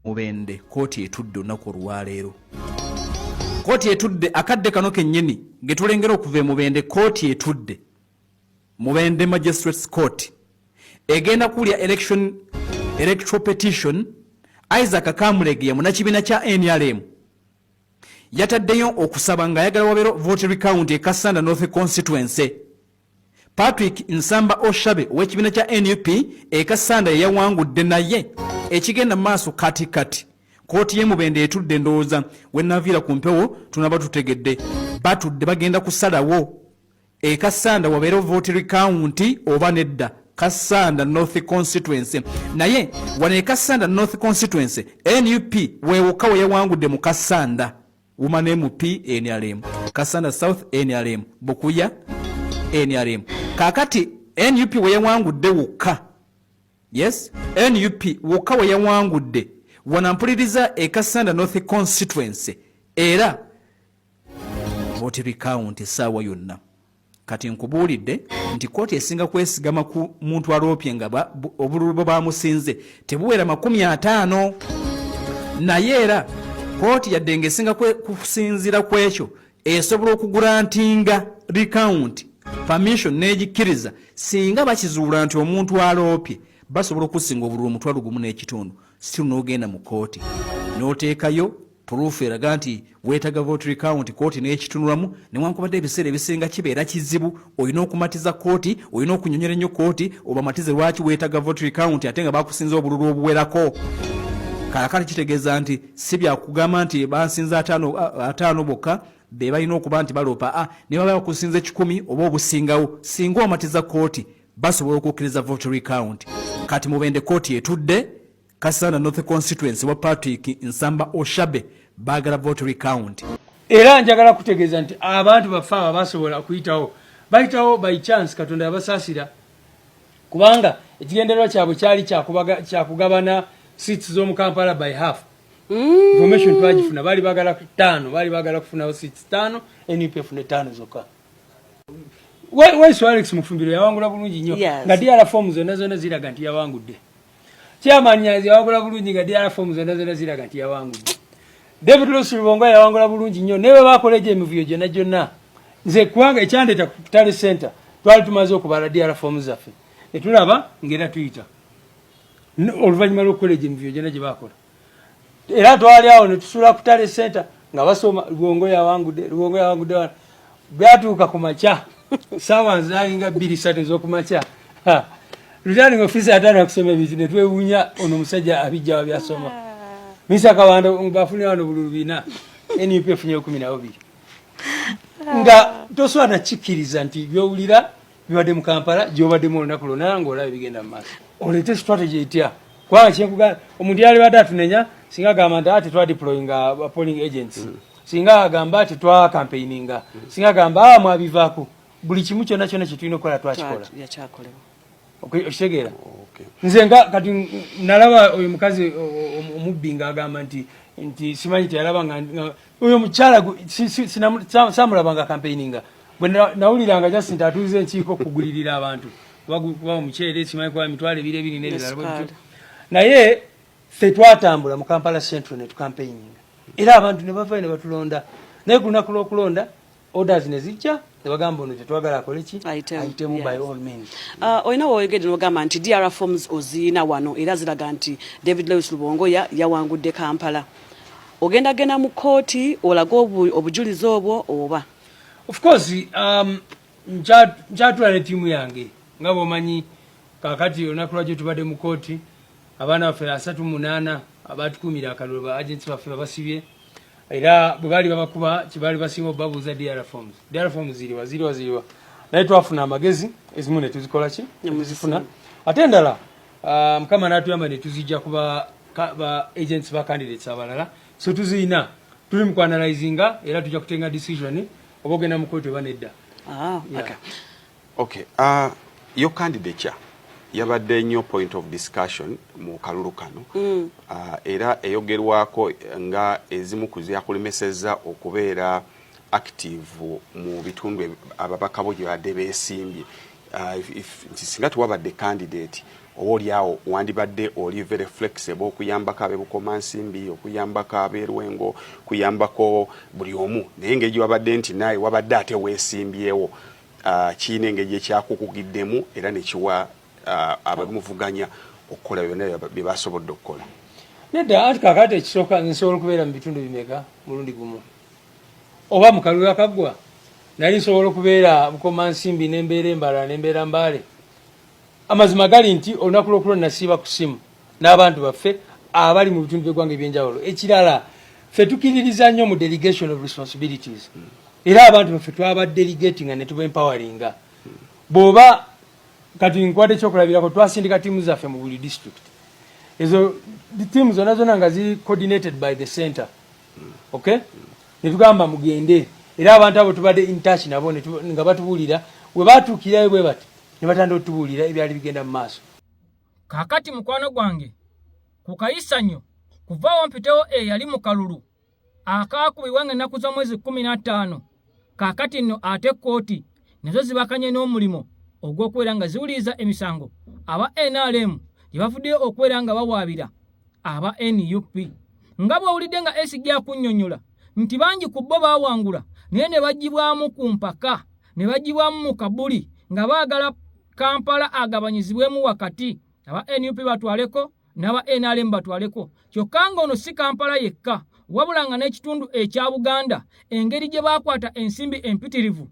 mubende kooti etudde olunaku olwaleero kooti etudde akadde kano kennyini ngetulengera okuva emubende kooti etudde mubende magistrates court egenda kuwulya election electoral petition isaac kamulegeya munakibiina kya nrm yataddeyo okusaba ng'ayagala wabeero vote recount e kassanda north constituency Patrick Nsamba Oshabe ow'ekibiina kya nup e Kassanda ye yawangudde naye ekigenda maaso kati kati kkooti y'e Mubende etudde ndowooza we naviira ku mpewo tunaba tutegedde batudde bagenda kusalawo e Kassanda wabeera vote rikaawunti oba nedda Kassanda North Constituency naye wano e Kassanda North Constituency nup wewoka we yawangudde mu Kassanda Woman MP NRM, Kasana South NRM, Bukuya NRM. Kakati NUP weyawangudde wokka. Yes, NUP wokka weyawangudde. Wanampuliriza e Kasanda North constituency era vote recount saawa yonna. kati nkubuulidde nti kkooti esinga kwesigama ku muntu aloopye nga obululu bwe bamusinze tebuwera makumi ataano naye era kkooti yadde nga esinga kusinziira ku ekyo esobola okugurantinga rikawunti permission n'egikkiriza singa bakizuula nti omuntu aloopye basobola okusinga obululu omutwalo gumu n'ekitundu siru n'ogenda mu kkooti n'oteekayo Puruufu eraga nti weetaga vote recount kooti n'ekitunulamu newankubadde ebiseera ebisinga kibeera kizibu olina okumatiza kooti olina okunyonyola ennyo kooti obamatize lwaki weetaga vote recount ate nga bakusinza obululu obuwerako kaakati kitegeeza nti si byakugamba nti bansinza ataano bokka be balina okuba nti baloopa a ne baba bakusinza ekikumi oba obusingawo singa omatiza kooti basobola okukkiriza vote recount kati mubende kooti etudde Kasana North Constituency wa Patrick Nsamba Oshabe bagala vote recount. Era njagala kutegeeza nti abantu baffe aba basobola kuyitawo bayitawo by chance Katonda yabasaasira kubanga ekigendererwa kyabwe kyali kyakugabana seats z'omu Kampala by half mm. information twagifuna baali bagala ttaano baali bagala kufunawo seats ttaano nup efuna ettaano zokka waiso alex mufumbiro yawangula bulungi nnyo nga diala fomu zonna zonna ziraga nti yawangudde Chairman Nyanzi yawangula bulungi nga DR form zonna zonna ziraga nti yawangudde. David Lucy Lubonga yawangula bulungi nnyo naye bwe bakola egyo emivuyo gyonna gyonna nze kubanga ekyandeeta ku Tally Center twali tumaze okubala DR form zaffe ne tulaba ng'era tuyita oluvannyuma lw'okukola egyo emivuyo gyonna gye baakola. era twali awo ne tusula ku tale center nga basoma luwongo yawangude luwongo yawangude wana byatuuka ku makya saawa nzalinga bbiri satu ez'okumakya returning officer yatandika okusoma ebintu ne twewuunya ono omusajja abijjawa byasoma misa kabanda bafunira wano bululu bina nup efunye kumi nabo biri nga toswala nakikkiriza nti byowulira bibadde mu kampala gyobaddemu olunaku lwona ngaolaba ebigenda mu maaso oleete strategy etya kubanga kyekuga omuntu yalibadde atunenya singa agamba nti ati ah, twadiployinga uh, polling agents mm. singa agamba ati twakampeininga mm. singa agamba ah, mwabivaako buli kimu kyona kyona kyetulina okukola twakikola okitegeera nze nga kati nalaba oyo mukazi omubbi nga agamba nti nti simanyi teyalaba nga oyo mukyala samulaba nga campaigninga bwe nawuliranga just nti atuuza enkiiko okugulirira abantu kuba omuceere simanyi kuba emitwalo ebiri ebiri n'ebirala naye ffe twatambula mu kampala central ne tukampeyinga era abantu ne bavayo ne batulonda naye ku lunaku lw'okulonda orders ne zijja ne bagamba ono tetwagala akole ki ayitemu by all means uh, olina woyogedde nogamba nti dr forms oziina wano era ziraga nti david lewis lubongoya yawangudde kampala ogenda genda mu kooti olaga obujulizi obwo oba of course um, njatula ne tiimu yange nga bwomanyi kakati olunaku lwaki tubadde mu kooti abaana baffe asatu munaana abatukumira akalulu ba agents baffe babasibye era bwe baali babakuba kyebaali basinga obabuuza dr forms dr forms ziriwa ziriwa ziriwa naye twafuna amagezi ezimu ne tuzikola ki ne muzifuna ate endala ah, mukama n'atuyamba ne tuzijja kuba ba agents ba candidates abalala so tuziyina tuli mu kwanalizinga era tujja kutenga decision oba ogenda mu kooto oba nedda ah, Okay, uh, your candidature yabadde nnyo point of discussion mu kalulu kano mm. uh, era eyogerwako nga ezimu ku zyakulemesezza okubeera active mu bitundu ababaka bo gyebadde besimbye uh, nti singa tewabadde candidate oba olyawo wandibadde oli very flexible okuyambako abebukoma nsimbi okuyambako aberwengo kuyambako buli omu naye ngeri gyewabadde nti naawe wabadde ate wesimbyewo uh, kirina engeri gyekyakukugiddemu era nekiwa uh, abamuvuganya okukola byona byebasobodde okukola nedda anti kakati ekisooka nsobola okubeera mu bitundu bimeka mulundi gumu oba mu kalulu akaggwa nali nsobola okubeera bukoma nsimbi nembeera embala nembeera mbaale amazima gali nti olunaku lwokulo nasiiba ku simu n'abantu baffe abali mu bitundu by'eggwanga ebyenjawulo ekirala ffe tukiririza nnyo mu delegation of responsibilities era abantu baffe twaba delegating ne tuba empoweringa bw'oba kati nkwata ekyokulabirako twasindika tiimu zaffe mu buli district ezo tiimu zona zona nga ziri coordinated by the center okay netugamba mugende era abantu abo tubadde intouch nabo nga batubuulira we batuukirayo bwe bati ne batandika otubuulira ebyali bigenda mu maaso Kaakati, mukwano gwange, ku kayisanyo, kuvaawo mpitewo eyali mu kalulu akaakubibwa nga ennaku z'omwezi kkumi na ttaano, kaakati nno ate kkooti nazo zibakanye n'omulimu ogw'okubeera nga ziwuliriza emisango aba nrm gye bavuddeyo okubeera nga bawaabira aba nup. Nga bw'owulidde nga SG akunnyonnyola nti bangi ku bo baawangula naye ne baggyibwamu ku mpaka ne bagibwamu mu kabuli nga baagala Kampala agabanyizibwemu wakati aba nup batwaleko n'aba nrm batwaleko kyokka ng'ono si Kampala yekka wabula nga n'ekitundu ekya Buganda engeri gye baakwata ensimbi empitirivu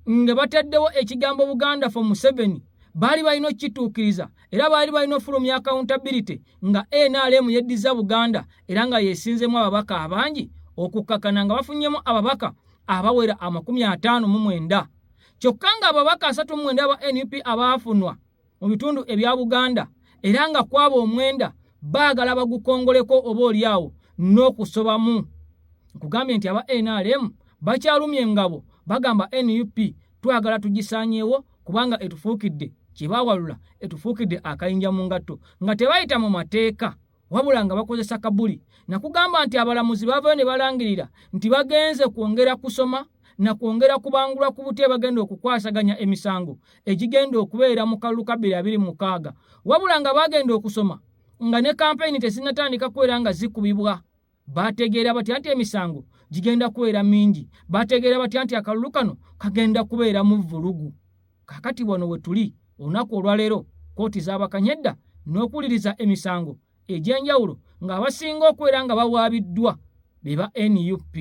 nga bataddewo ekigambo Buganda for Museveni baali balina okukituukiriza era baali balina ofulumya accountability nga nrm yeddiza Buganda era nga yesinzemu ababaka abangi okukkakana nga bafunyemu ababaka abawera amakumi ataano mu mwenda kyokka ng'ababaka asatu mu mwenda aba nup abaafunwa mu bitundu ebya buganda era nga kwaba omwenda baagala bagukongoleko oba olyawo n'okusobamu nkugambye nti aba nrm bakyalumya engabo bagamba nup twagala tugisanyeewo kubanga etufuukidde kye baawalula etufuukidde akayinja mu ngatto nga tebayita mu mateeka wabula nga bakozesa kabuli nakugamba nti abalamuzi baavayo ne balangirira nti bagenze kwongera kusoma na kwongera kubangulwa ku butya bagenda okukwasaganya emisango egigenda okubeera mu kalulu ka bbiri abiri mukaaga wabula nga bagenda okusoma nga ne kampeyini tezinnatandika kubeera nga zikubibwa baategeera batya nti emisango gigenda kubeera mingi baategeera batya nti akalulu kano kagenda kubeeramu vvulugu kakati wano we tuli olunaku olwaleero kkooti zaabakanya edda n'okuwuliriza emisango egy'enjawulo ng'abasinga okubeera nga bawaabiddwa be ba nup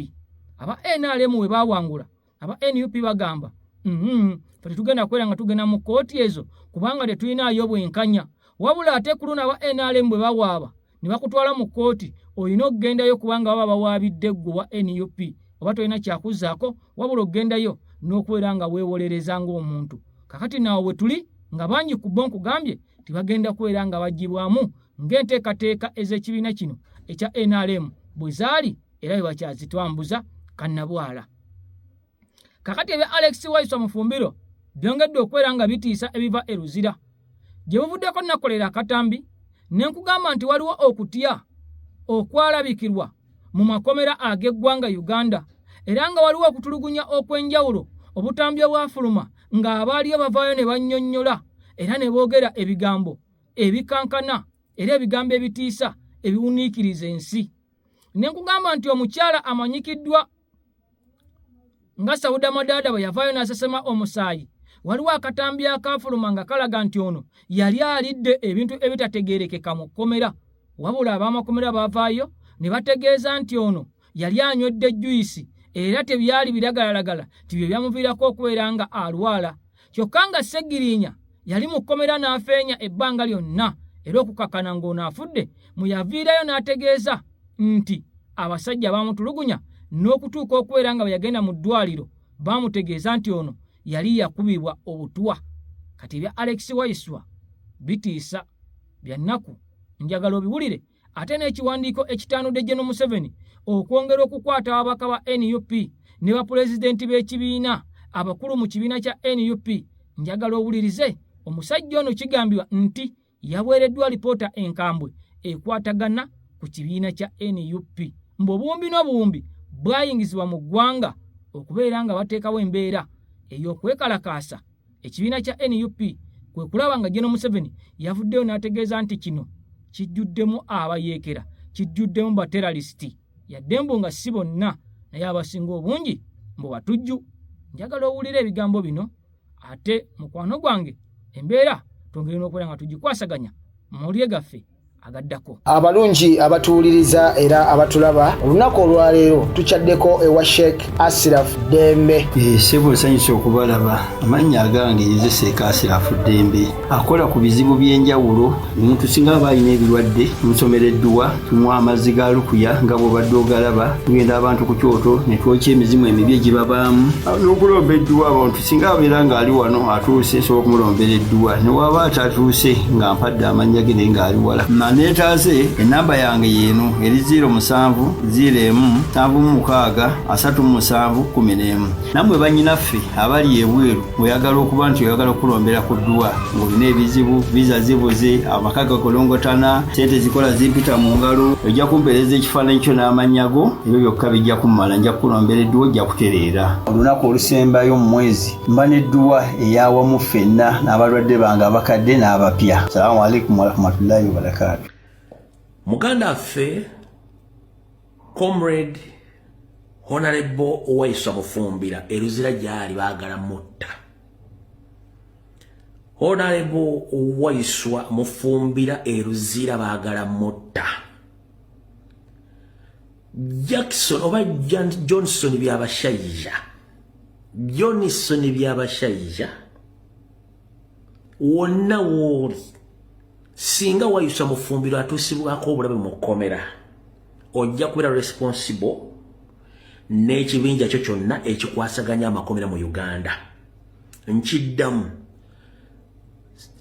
aba nrm we baawangula aba nup bagamba mm-hmm. fe tetugenda kubeera nga tugenda mu kkooti ezo kubanga tetulinaayo bwenkanya wabula ate ku luno aba nrm bwe bawaaba ne bakutwala mu kkooti olina okugendayo kubanga baba bawaabidde ggwe wa nup oba tolina kyakuzaako wabula okugendayo n'okubeera nga weewolereza ng'omuntu kakati naawo bwe tuli nga bangi ku bo nkugambye tebagenda kubeera nga bagibwamu ng'enteekateeka ez'ekibiina kino ekya nrm bwe zaali era bebakyazitwambuza kannabwala kakati ebya alex waisa mufumbiro byongedde okubeera nga bitiisa ebiva e luzira gye buvuddeko nakolera akatambi ne nkugamba nti waliwo okutya okwalabikirwa mu makomera ag'eggwanga uganda era nga waliwo okutulugunya okw'enjawulo obutambi obwafuluma ng'abaaliyo bavaayo ne bannyonnyola era ne boogera ebigambo ebikankana era ebigambo ebitiisa ebiwuniikiriza ensi ne nkugamba nti omukyala amanyikiddwa nga sauda madaada bwe yavaayo n'asesema omusaayi waliwo akatambi akaafuluma nga kalaga nti ono yali alidde ebintu ebitategeerekeka mu kkomera wabula ab'amakomera baavaayo ne bategeeza nti ono yali anywedde juyisi era tebyali biragalalagala nti bye byamuviirako okubeera nga alwala kyokka nga Ssegiriinya yali mu kkomera n'afeenya ebbanga lyonna era okukakana ng'ono afudde mwe yaviirayo n'ategeeza nti abasajja baamutulugunya n'okutuuka okubeera nga bwe yagenda mu ddwaliro baamutegeeza nti ono yali yakubibwa obutwa kati ebya Alex Waiswa bitiisa bya nnaku njagala obiwulire ate n'ekiwandiiko ekitaanudde gye nomuseveni okwongera okukwata ababaka ba nup ne bapulezidenti b'ekibiina abakulu mu kibiina kya nup njagala owulirize omusajja ono kigambibwa nti yaweereddwa alipoota enkambwe ekwatagana ku kibiina kya nup mbu obuwumbi n'obuwumbi bwayingizibwa mu ggwanga okubeera nga bateekawo embeera ey'okwekalakaasa ekibiina kya nup kwe kulaba nga jeno museveni yavuddeyo n'ategeeza nti kino kijjuddemu abayeekera kijjuddemu bateralisiti yadde mbu nga si bonna naye abasinga obungi mbu batujju njagala owulira ebigambo bino ate mukwano gwange embeera twongere n'okubeera nga tugikwasaganya mu mawulire gaffe agaddako abalungi abatuwuliriza era abatulaba olunaku olwaleero tukyaddeko ewa sheik asiraf dembe eh, sebo nsanyusa okubalaba amannya agange nze sheik asiraf dembe akola ku bizibu by'enjawulo omuntu singa aba alina ebirwadde tumusomera edduwa tumuwa amazzi ga lukuya nga bwobadde ogalaba tugenda abantu ku kyoto ne twokya emizimu emibi egibabaamu n'okulomba edduwa abantu singa abeera ng'ali wano atuuse nsobola okumulombera edduwa newaaba atatuuse nga mpadde amannya ge naye ng'ali wala maneetaaze ennamba yange yeeno eri 0 musanvu 0 emu nsanvu mu mukaaga asatu mu musanvu kumi n'emu nammwe bannyinaffe abali ebweru oyagala okuba nti oyagala okulombera ku dduwa ng'olina ebizibu viza zibuze amaka gakolongotana sente zikola zimpita mu ngalo ojja kumpeereza ekifaananyi kyo n'amannya go ebyo byokka bijja kummala nja kukulombera edduwa ojja kutereera olunaku olusembayo mu mwezi mba n'edduwa eyawamu ffenna n'abalwadde bange abakadde n'abapya salaamu aleikum warahmatullahi wabarakaatu muganda affe comrade honarebo owaisa bufumbira eruzira gyali baagala mutta honarebo owaiswa mufumbira eruzira baagala mutta Jackson oba Johnson byabashaija Johnson byabashaija wonna wooli singa wayusa mufumbiro atuusibwako obulabe mu kkomera ojja kubeera responsible n'ekibinja kyo kyonna ekikwasaganya amakomera mu uganda nkiddamu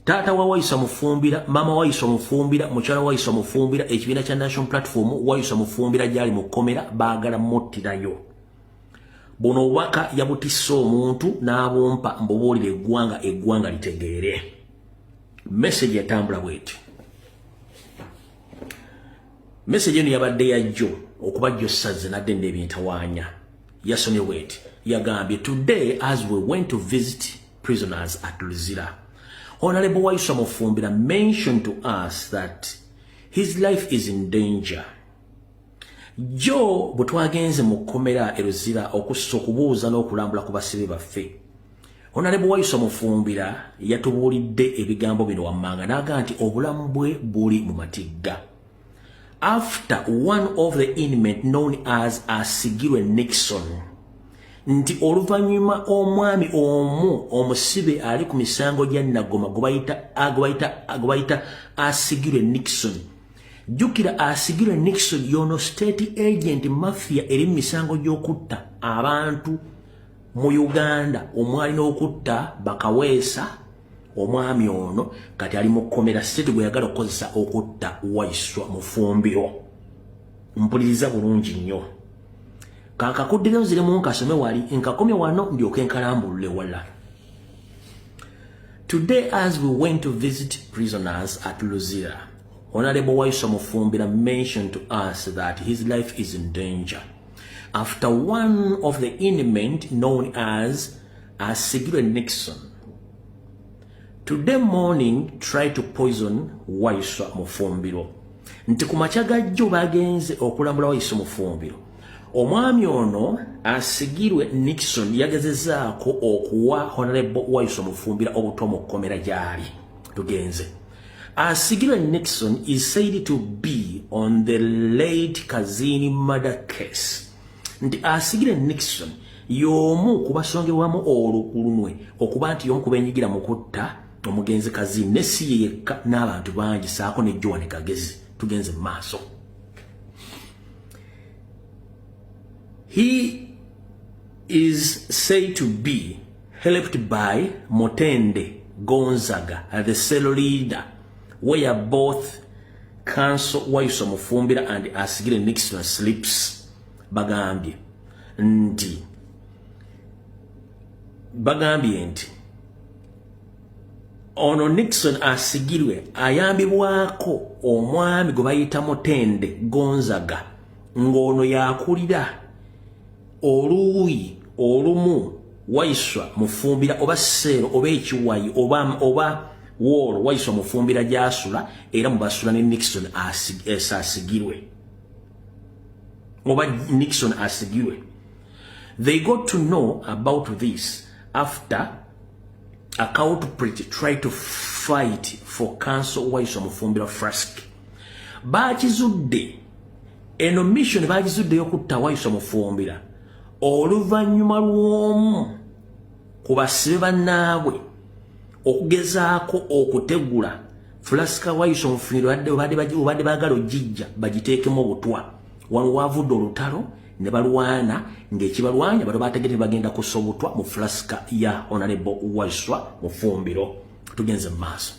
taata wa wayisa mufumbira mama wayisa mufumbira mukyala wayisa mufumbira ekibiina kya national platform wayisa mufumbira gyali mu kkomera baagala muttirayo buno obubaka yabutisse omuntu n'abumpa mbubuulira eggwanga eggwanga litegeere meseji yatambula bweti meseji eno yabadde yajjo okuba jjo sazze nadde nda ebintawaanya yasomye bweti yagambye today as we went to visit prisoners at Luzira. Honorable Waiswa Mufumbira mentioned to us that his life is in danger. Joe butwagenze mu kkomera e Luzira okussa okubuuza n'okulambula ku basibe baffe. Honorable Waiswa Mufumbira yatubuulidde ebigambo bino wammanga n'aga nti obulamu bwe buli mu matigga. after one of the inmate known as asigirwe nixon nti oluvannyuma omwami omu omusibe ali ku misango gya nagoma gwebayita asigirwe nixon jjukira asigirwe nixon yono state agent mafia eri mu misango gy'okutta abantu mu uganda omwali n'okutta bakaweesa omwami ono kati ali mukomera state gweyagala okukozesa okutta waiswa mufumbiro mpuliriza bulungi nnyo kankakuddire nziremu nkasome wali nkakomye wano ndyoke nkalambulule wala today as we went to visit prisoners at luzira honorable waiswa mufumbira mentioned to us that his life is in danger after one of the inmate known as asigirwe Nixon today morning try to poison Waiswa Mufumbiro nti ku makya ga jjo bagenze okulambula Waiswa Mufumbiro omwami ono asigirwe Nixon yagezezaako okuwa Honorable Waiswa Mufumbira obuto mu kkomera gyali tugenze asigirwe Nixon is said to be on the late Kazini murder case nti asigire Nixon y'omu ku basongerwamu olukulunwe okuba nti y'omu ku benyigira mu kutta omugenzi kazi ne si ye yekka n'abantu bangi saako ne joan kagezi tugenze mu maaso he is say to be helped by motende gonzaga the cell leader where both kanso waiso mufumbira and asigire nixon slips bagambye nti bagambye nti ono nixon asigirwe ayambibwako omwami gwe bayita mutende gonzaga ng'ono yakulira oluuyi olumu waiswa mufumbira oba seero oba ekiwayi oba oba woolo waiswa mufumbira gyasula era mubasula ne nixon asigirwe eh, oba nixon asigirwe they got to know about this after account pretty try to fight for council waiswa mufumbira frask bakizudde eno mission bagizuddeyo kutta waiso mufumbira oluvannyuma lw'omu ku basibe bannaabwe okugezaako okutegula fulasika waiso mufumbiro obadde baagala ogijja bagiteekemu obutwa wano waavudde olutalo ne balwana ng'ekibalwanya bano baategete bagenda kussa obutwa mu fulasika ya honarebo waiswa mufumbiro tugenze mu maaso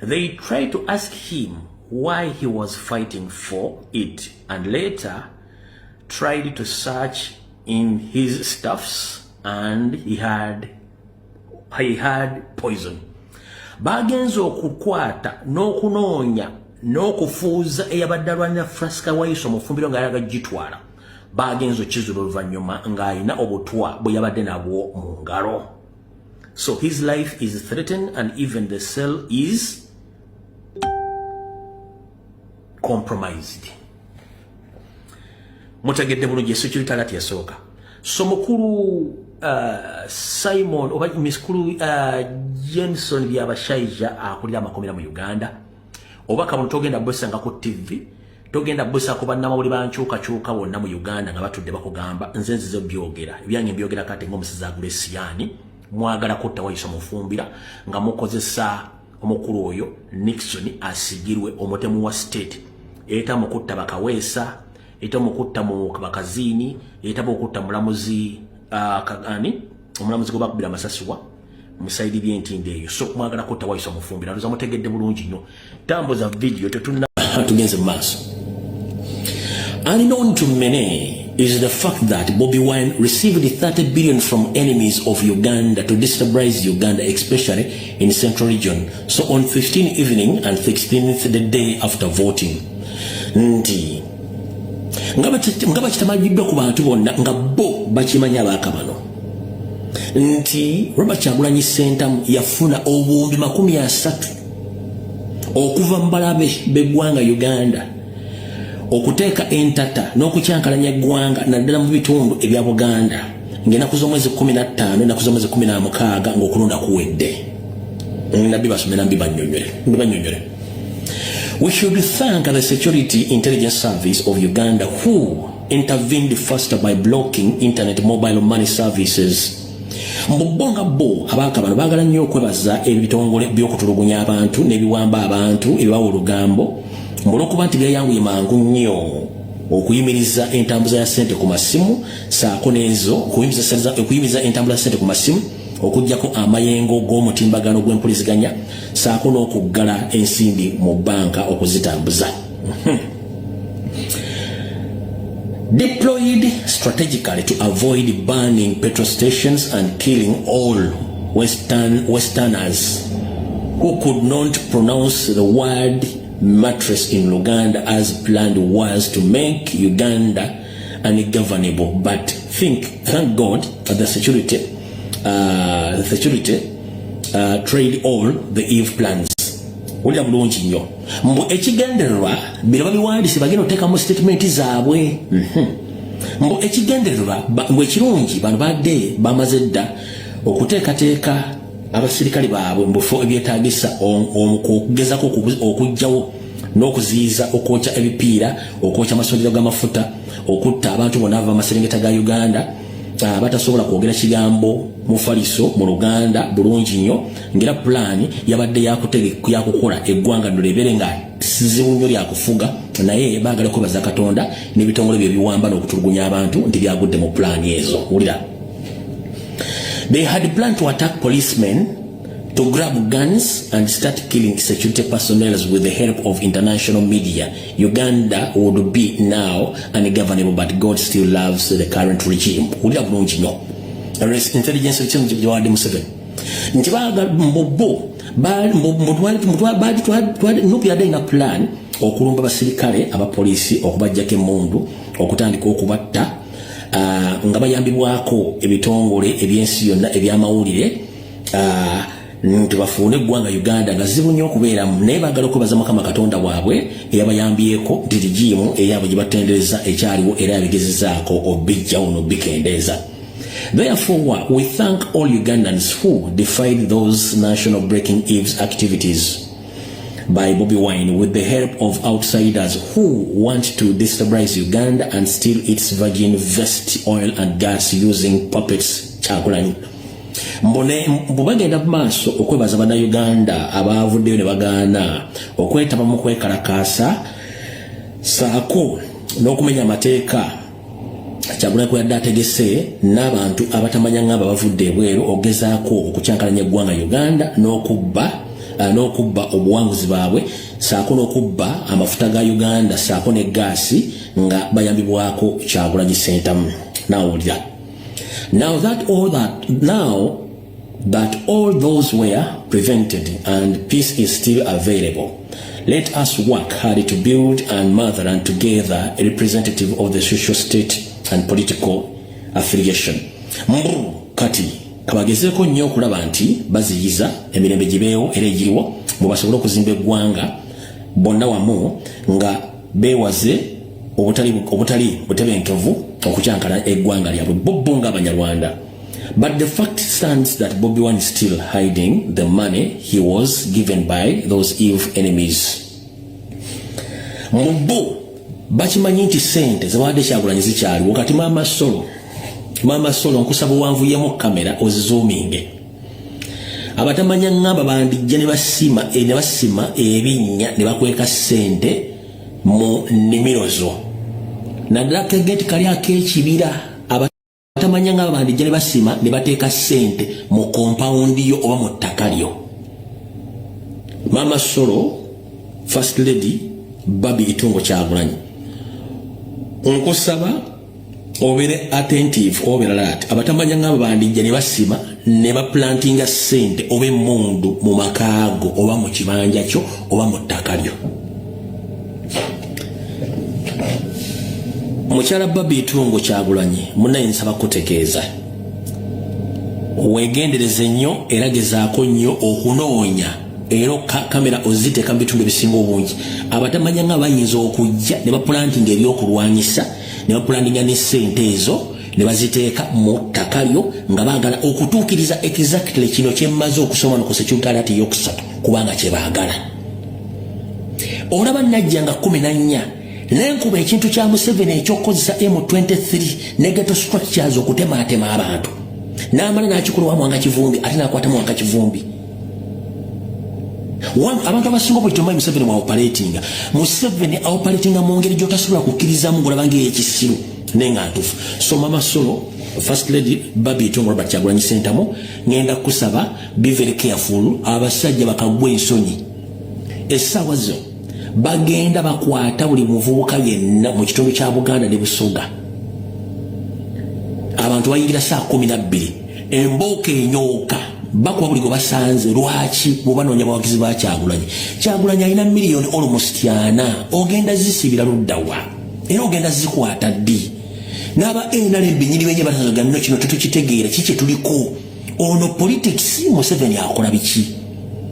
They tried to ask him why he was fighting for it and later tried to search in his stuffs and he had he had poison bagenze okukwata n'okunoonya n'okufuuza eyabadde alwanira frasika wayiso mufumbiro nga yalaga gitwala bagenze okizula oluvannyuma ng'alina obutwa bwe yabadde nabwo mu ngalo So his life is threatened and even the cell is compromised. Mutegedde bulungi security alert yasooka. So mukulu uh, Simon oba miskulu uh, Jenson Byabashaija akulira amakomera mu Uganda oba kabulu togenda bwesanga ku tv togenda busa ku bannamawuli bankyuka kyuka wonna mu uganda nga batudde bakugamba nze nzize byogera ebyange mbyogera kati ngaomusezi agula esiyani mwagala kutta wayisa mufumbira nga mukozesa omukulu oyo nixon asigirwe omutemu wa state eta mukutta bakaweesa eta mukutta mu bakazini eta bokutta mulamuzi uh, kagani omulamuzi gwebakubira amasasiwa musaidi byentindo eyo so mwagala kutta waiso mufumbira ndoza mutegedde bulungi nnyo tambuza video tetuna tugenze maaso unknown to many is the fact that Bobby Wine received 30 billion from enemies of Uganda to destabilize Uganda, especially in central region. So on 15 evening and 16th the day after voting, Ndi nga bakitamagiddwa ku bantu bonna nga bo bakimanya abaaka bano nti robert kyagulanyi sentamu yafuna obuwumbi makumi asatu okuva mu balabe b'eggwanga uganda okuteeka entata n'okukyankalanya eggwanga naddala mu bitundu ebya buganda ng'enaku z'omwezi 15 enaku z'omwezi 16 ng'okulonda kuwedde nabbi basomera mbi banyonyole We should thank the Security Intelligence Service of Uganda who intervened faster by blocking internet mobile money services. Mubbo nga bo abaka bano bagala nnyo okwebaza ebitongole by'okutulugunya abantu n'ebiwamba abantu ebibawa olugambo olw'okuba nti byayanguye mangu nnyo okuyimiriza entambuza ya ssente ku masimu saako n'ezo okuyimiriza entambula ya ssente ku masimu okujjako amayengo g'omutimbagano gw'empuliziganya saako n'okuggala ensimbi mu bbanka okuzitambuza hmm. deployed strategically to avoid burning petrol stations and killing all western westerners who could not pronounce the word mattress in luganda as planned was to make uganda ungovernable but think thank god for the security uh, the security uh, trade all the eve plans wulira bulungi nnyo mbu ekigendererwa bino babiwandise bagenda otekamu statement zaabwe mhm. mbu ekigendererwa mbu ekirungi bano badde bamaze dda okuteekateeka abasirikale baabwe mubufo ebyetagisa okugezako okugjawo n'okuziyiza okwokya ebipiira okwokya amasundiro g'amafuta okutta abantu bonna ava maserengeta ga uganda ah, batasobola kwogera kigambo mufaliso mu luganda bulungi nnyo ngaera pulaani yabadde yakukola eggwanga nno lebeere nga sizibu nnyo lyakufuga naye baagala kwebaza katonda n'ebitongole bye biwamba n'okutulugunya abantu nti byagudde mu pulaani ezo wulira they had plan to attack policemen to grab guns and start killing security personnel with the help of international media, Uganda would be now ungovernable, but God still loves the current regime. Would have known you know. Intelligence system Jawadi Museveni. Nti baga mbobo bali mutwali mutwali bali twali nupi adai na plan okulumba basirikale aba polisi okubajjako emmundu okutandika okubatta uh, nga bayambibwako ebitongole ebyensi yonna ebyamawulire uh, nti bafuune eggwanga uganda nga zibu nnyo okubeeramu naye bagala okwebaza mukama katonda waabwe eyabayambyeko nti ligiimu eyaabwe gye batendereza ekyaliwo era yabigezezaako obijjawo nobikendeeza therefore we thank all ugandans who defied those national breaking eves activities by Bobby Wine with the help of outsiders who want to destabilize Uganda and steal its virgin vest oil and gas using puppets. Chakulani. mbu bagenda mu maaso okwebaza bannayuganda abaavuddeyo ne bagaana okwetaba mu kwekalakaasa saako n'okumenya amateeka kyagulanyi kwe yadde ategese n'abantu abatamanya ng'abo abavudde ebweru okugezaako okukyankalanya eggwanga uganda n'okubba eh, n'okubba obuwanguzi baabwe saako n'okubba amafuta ga uganda saako ne gaasi nga bayambibwako kyagulanyi sentamu naawulira Now that all that now that all those were prevented and peace is still available. Let us work hard to build and mother and together a representative of the social state and political affiliation. Mbu kati kabagezeko nnyo okulaba nti baziyiza emirembe gibeewo era egiriwo mwe basobole okuzimba eggwanga bonna wamu nga beewaze obutali obutali butebenkevu okukyankala eggwanga lyabwe bobbo nga abanyarwanda but the fact stands that bobi one is still hiding the money he was given by those eve enemies mu bo bakimanyi nti sente zebadde kyagulanyi zikyaliwo kati maama solo maama solo nkusaba owanvuyemu kamera ozizoominge abatamanya ngamba bandijja ne basima eh, ne basima ebinnya ne bakweka ssente mu nnimiro zo naddala kegeti kali ak'ekibira abatamanya ngamba bandijja ne basima ne bateeka ssente mu kompawundi yo oba mu ttaka lyo maama solo first lady babi itungo kyagulanyi nkusaba obere attentive obera lat abatamanya ngabo bandijja ne basima ne ba planting a sente obe mundu mu makago oba mu kibanja kyo oba mu takalyo mukyala babi tungo kyagulanyi muna ensaba kutegeeza wegendereze nnyo era gezaako nnyo okunoonya era kamera oziteeka mu bitundu ebisinga obungi abatamanya nga bayinza okujja ne bapulantinga ebyokulwanyisa ne bapulantinga ne ssente ezo ne baziteeka mu ttaka lyo nga baagala okutuukiriza exactly kino kyemmaze okusoma no ku sekyutalati eyokusatu kubanga kye baagala olaba najja nga kumi na nnya nenkuba ekintu kya museveni ekyokukozesa m23 negato structures okutemaatema abantu n'amala n'akikulawamu wanga kivumbi ate n'akwatamu wanga kivumbi abantu abasinga obuli tomanyi museveni waopaletinga museveni aopaletinga mu ngeri gyotasobola kukkirizamu ngolabanga eyekisiru naye nga ntufu so mama solo first lady babi tongo robert kyagulanyi sentamu ngenda kusaba be very careful abasajja bakagwa ensonyi essaawa zo bagenda bakwata buli muvubuka yenna mu kitundu kya buganda ne busoga abantu bayingira saa kumi nabbiri embooko enyooka bakuba buli gwe basanze lwaki bwebanoonya bawagizi ba kyagulanyi kyagulanyi alina miliyoni olmost ana ogenda zisibira luddawa era ogenda zikwata ddi n'aba nrm benyini benye batazaga nno kino tetukitegeera ki kye tuliko ono politics museveni akola biki